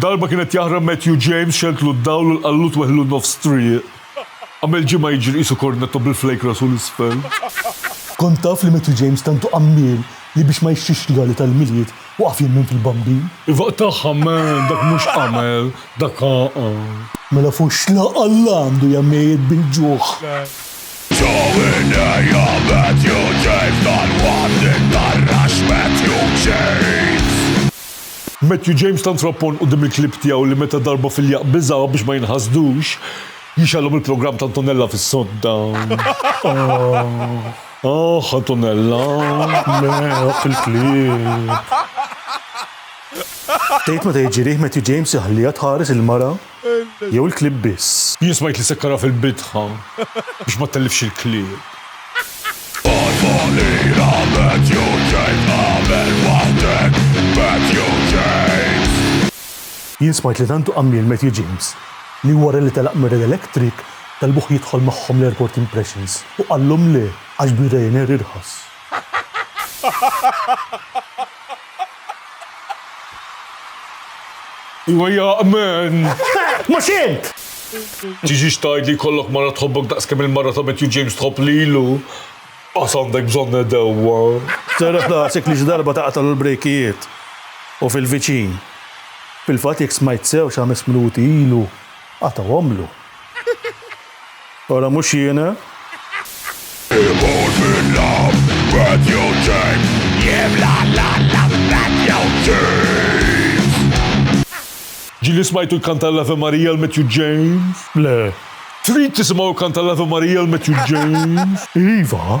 Darba kien qed jaħrab Matthew James xeltlu d-dawl u lqallu tweħlu nofs triq. Għamel ġimgħa jiġri qisu kornetto bil-flake rasu 'l isfel. Kont taf li Matthew James tantu qammiel li biex ma jixtrix rigali tal-Milied waqaf jemmen fil-Bambin? Iva tagħha man, dak mhux qamel, dak għaqal. Mela foxxla Alla għandu ja mejjet bil-ġuħ. Ġewwinnija Matthew James, dal-waqt intarrax Matthew James. Matthew James tant rappon quddiem il-klieb tiegħu li meta darba fil-jaqq biżgħu biex ma jinħasdux, jixgħalhom il-programm ta' Antonella fis-sodda. Aah! Aah, Antonella! Le, waqf il-klieb! Tgħid meta jiġi riħ Matthew James iħalliha tħares il-mara? jew il-klieb biss? Jien smajt li sekkarha fil-bidħa biex ma ttellifx il-klieb. Jien smajt li tant hu għammiel Matthew James li wara li telaq mir-Red Electric talbuh jidħol magħhom l-Airport Impressions u qallhom le għax bir-Ryanair irħas. Iwa jaqmen! Mhux int! Tiġix tgħid li jkollok mara tħobbok daqs kemm il-mara ta' Matthew James tħobb lilu? Qas għandek bżonn għedewwa! Serraħ rasek li xi darba taqtagħlu l-brejkijiet u fil-viċin. Fil-fatt jekk smajt sew xi ħames minuti ilu qatgħuhomlu. Ora mhux jiena. Ġieli smajtu jkanta l-Ave Maria l-Matthew James? Le. Trid tisimgħu jkanta l-Ave Maria l-Matthew James? Iva.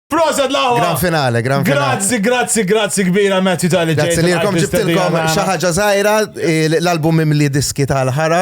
Proset lawa! Gran finale, gran finale. Grazzi, grazzi, grazzi kbira Matthew tal Grazzi li kom ġibtilkom xaħġa zaħira l-album imli diski tal-ħara.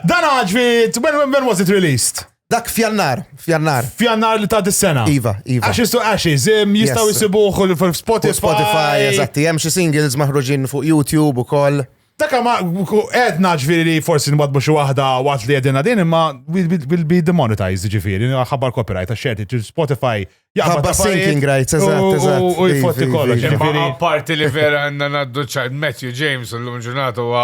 Dan għagġvi, when, when was it released? Dak fjannar, fjannar. Fjannar li ta' dis-sena. Iva, iva. Ashes to Ashes, jistaw jisibuħu fil-Spotify. Spotify, eżatti, jem xie singles maħruġin fuq YouTube u koll. Dakka ma għedna ġviri li forsi nwadbu xi waħda waqt li għedina din imma will be demonetized ġifiri, ħabbar copyright għax xerti Spotify Ħabba sinking rights, eżatt, eżatt. U jfotti kollox. Imma parti li vera għanna naddu ċajt Matthew James u l-lum ġurnata huwa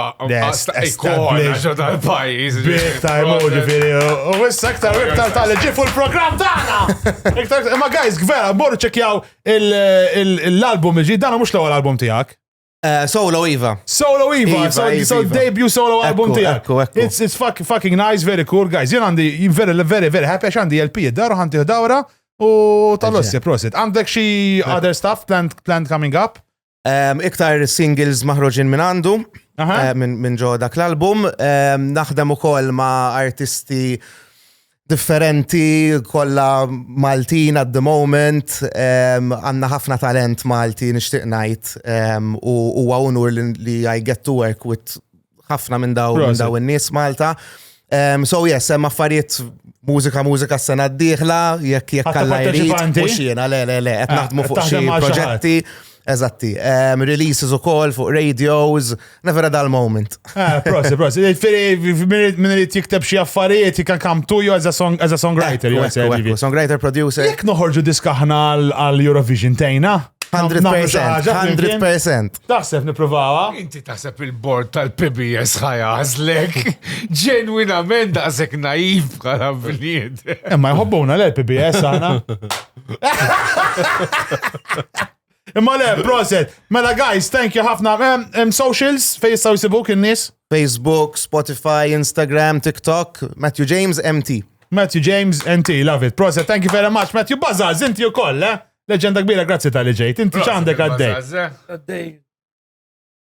ikona ġo tal-pajis. Big time u ġifiri. U issa iktar iktar tal ġi fuq il-programm tagħna. Imma guys, vera, morru ċekjaw l-album ġi, dana mhux l-ewwel album tiegħek. Eh, solo Iva. Solo Iva, so, so debut solo album tijak. It's, it's fuck, fucking nice, very cool, guys. Jien għandi, very, very, very happy, għax għandi LP id-daru, għandi dawra, u tal-ossi, prosit. Għandek xi other stuff planned, planned coming up? Um, iktar singles maħroġin minn għandu, uh, minn ġo dak l-album. Um, naħdem ukoll ma' artisti differenti, kolla Maltin at the moment, għanna ħafna talent Malti nishtiq najt u huwa unur li I get to work with ħafna minn daw minn daw in-nies Malta. Um, so yes, hemm affarijiet mużika mużika s-sena d-dieħla, jekk jekk kalla jrid, mhux jiena, le le le, qed ah, naħdmu fuq xi proġetti. Eżatti. Um, releases u kol fuq radios, never a dull moment. Ah, prosi, prosi. Minn li tikteb xie affarijiet, you can come to you as a, song, as a songwriter. Songwriter, producer. Jek noħorġu diskaħna għal Eurovision tejna? 100%. 100%. Taħseb niprovawa? Inti taħseb il-bord tal-PBS ħajazlek. Ġenwinament daqsek naif bħala blied. Imma jħobbuna l-PBS għana. Imma le, proset. Mela guys, thank you ħafna. Em, em, socials fej jistgħu jsibuk in-nies. Facebook, Spotify, Instagram, TikTok, Matthew James, MT. Matthew James, NT, love it. Proset, thank you very much. Matthew Bazaz, inti u koll, eh? Leġenda kbira, grazzi tal-li ġejt. Inti ċandek għaddej. Għaddej.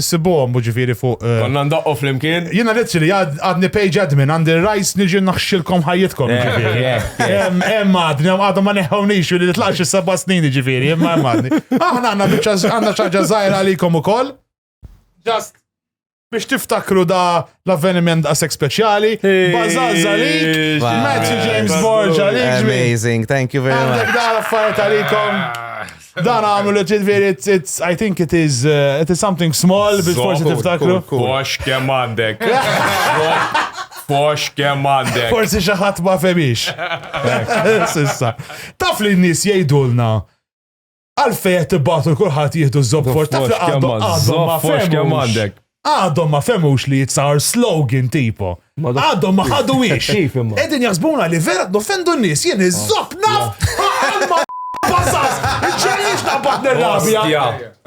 Issibuhom ġifieri fuq. Eh, Konna ndoqqu flimkien. Jiena literally għadni page admin għandi rajs niġi naħxilkom ħajjitkom eh, ġifieri. Eh, hemm għadni għadhom ma neħħewnix li tlaqx is-seba' snin ġifieri, imma hemm għadni. Aħna għandna biċċa għandna xaġa żgħira għalikom ukoll. Just biex tiftakru da L-avveniment daqshekk speċjali. Bażal żalik, Matthew eh, James Borg għalik ġmi. Amazing, thank you very much. Għandek dan affarijiet għalikom. Dan għamlu li ġidveri, I think it is, uh, it is something small biex forsi tiftakru. Kox kem għandek. Kox kem għandek. Forsi xaħat ma femix. Sissa. Taf li n-nis jgħidulna Għalfej qed tibgħatu l kulħadd jieħdu ż-żobfor taf li għadhom ma fehmux. Għadhom ma fehmux li jitsar slogan tipo. Għadhom ma ħadu wiex. Qegħdin jaħsbuna li vera noffendu n-nies jien iż-żob naf Passas! Ġenix ta' batner rabja!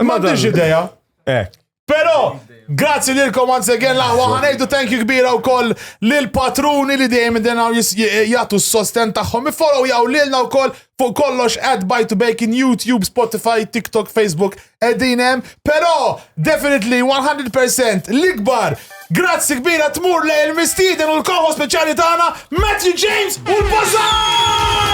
Ma diġ ideja. Pero, grazzi lilkom once again laħwa ħanejdu thank you kbira u koll lil-patruni li dejjem denaw jgħatu s-sosten taħħom. Follow jaw lilna u koll fuq kollox ad by to bacon, YouTube, Spotify, TikTok, Facebook, edinem. Pero, definitely 100% l-ikbar Grazzi kbira tmur li l-mistiden u l-koħo speċjali tagħna Matthew James u l-Bazaar!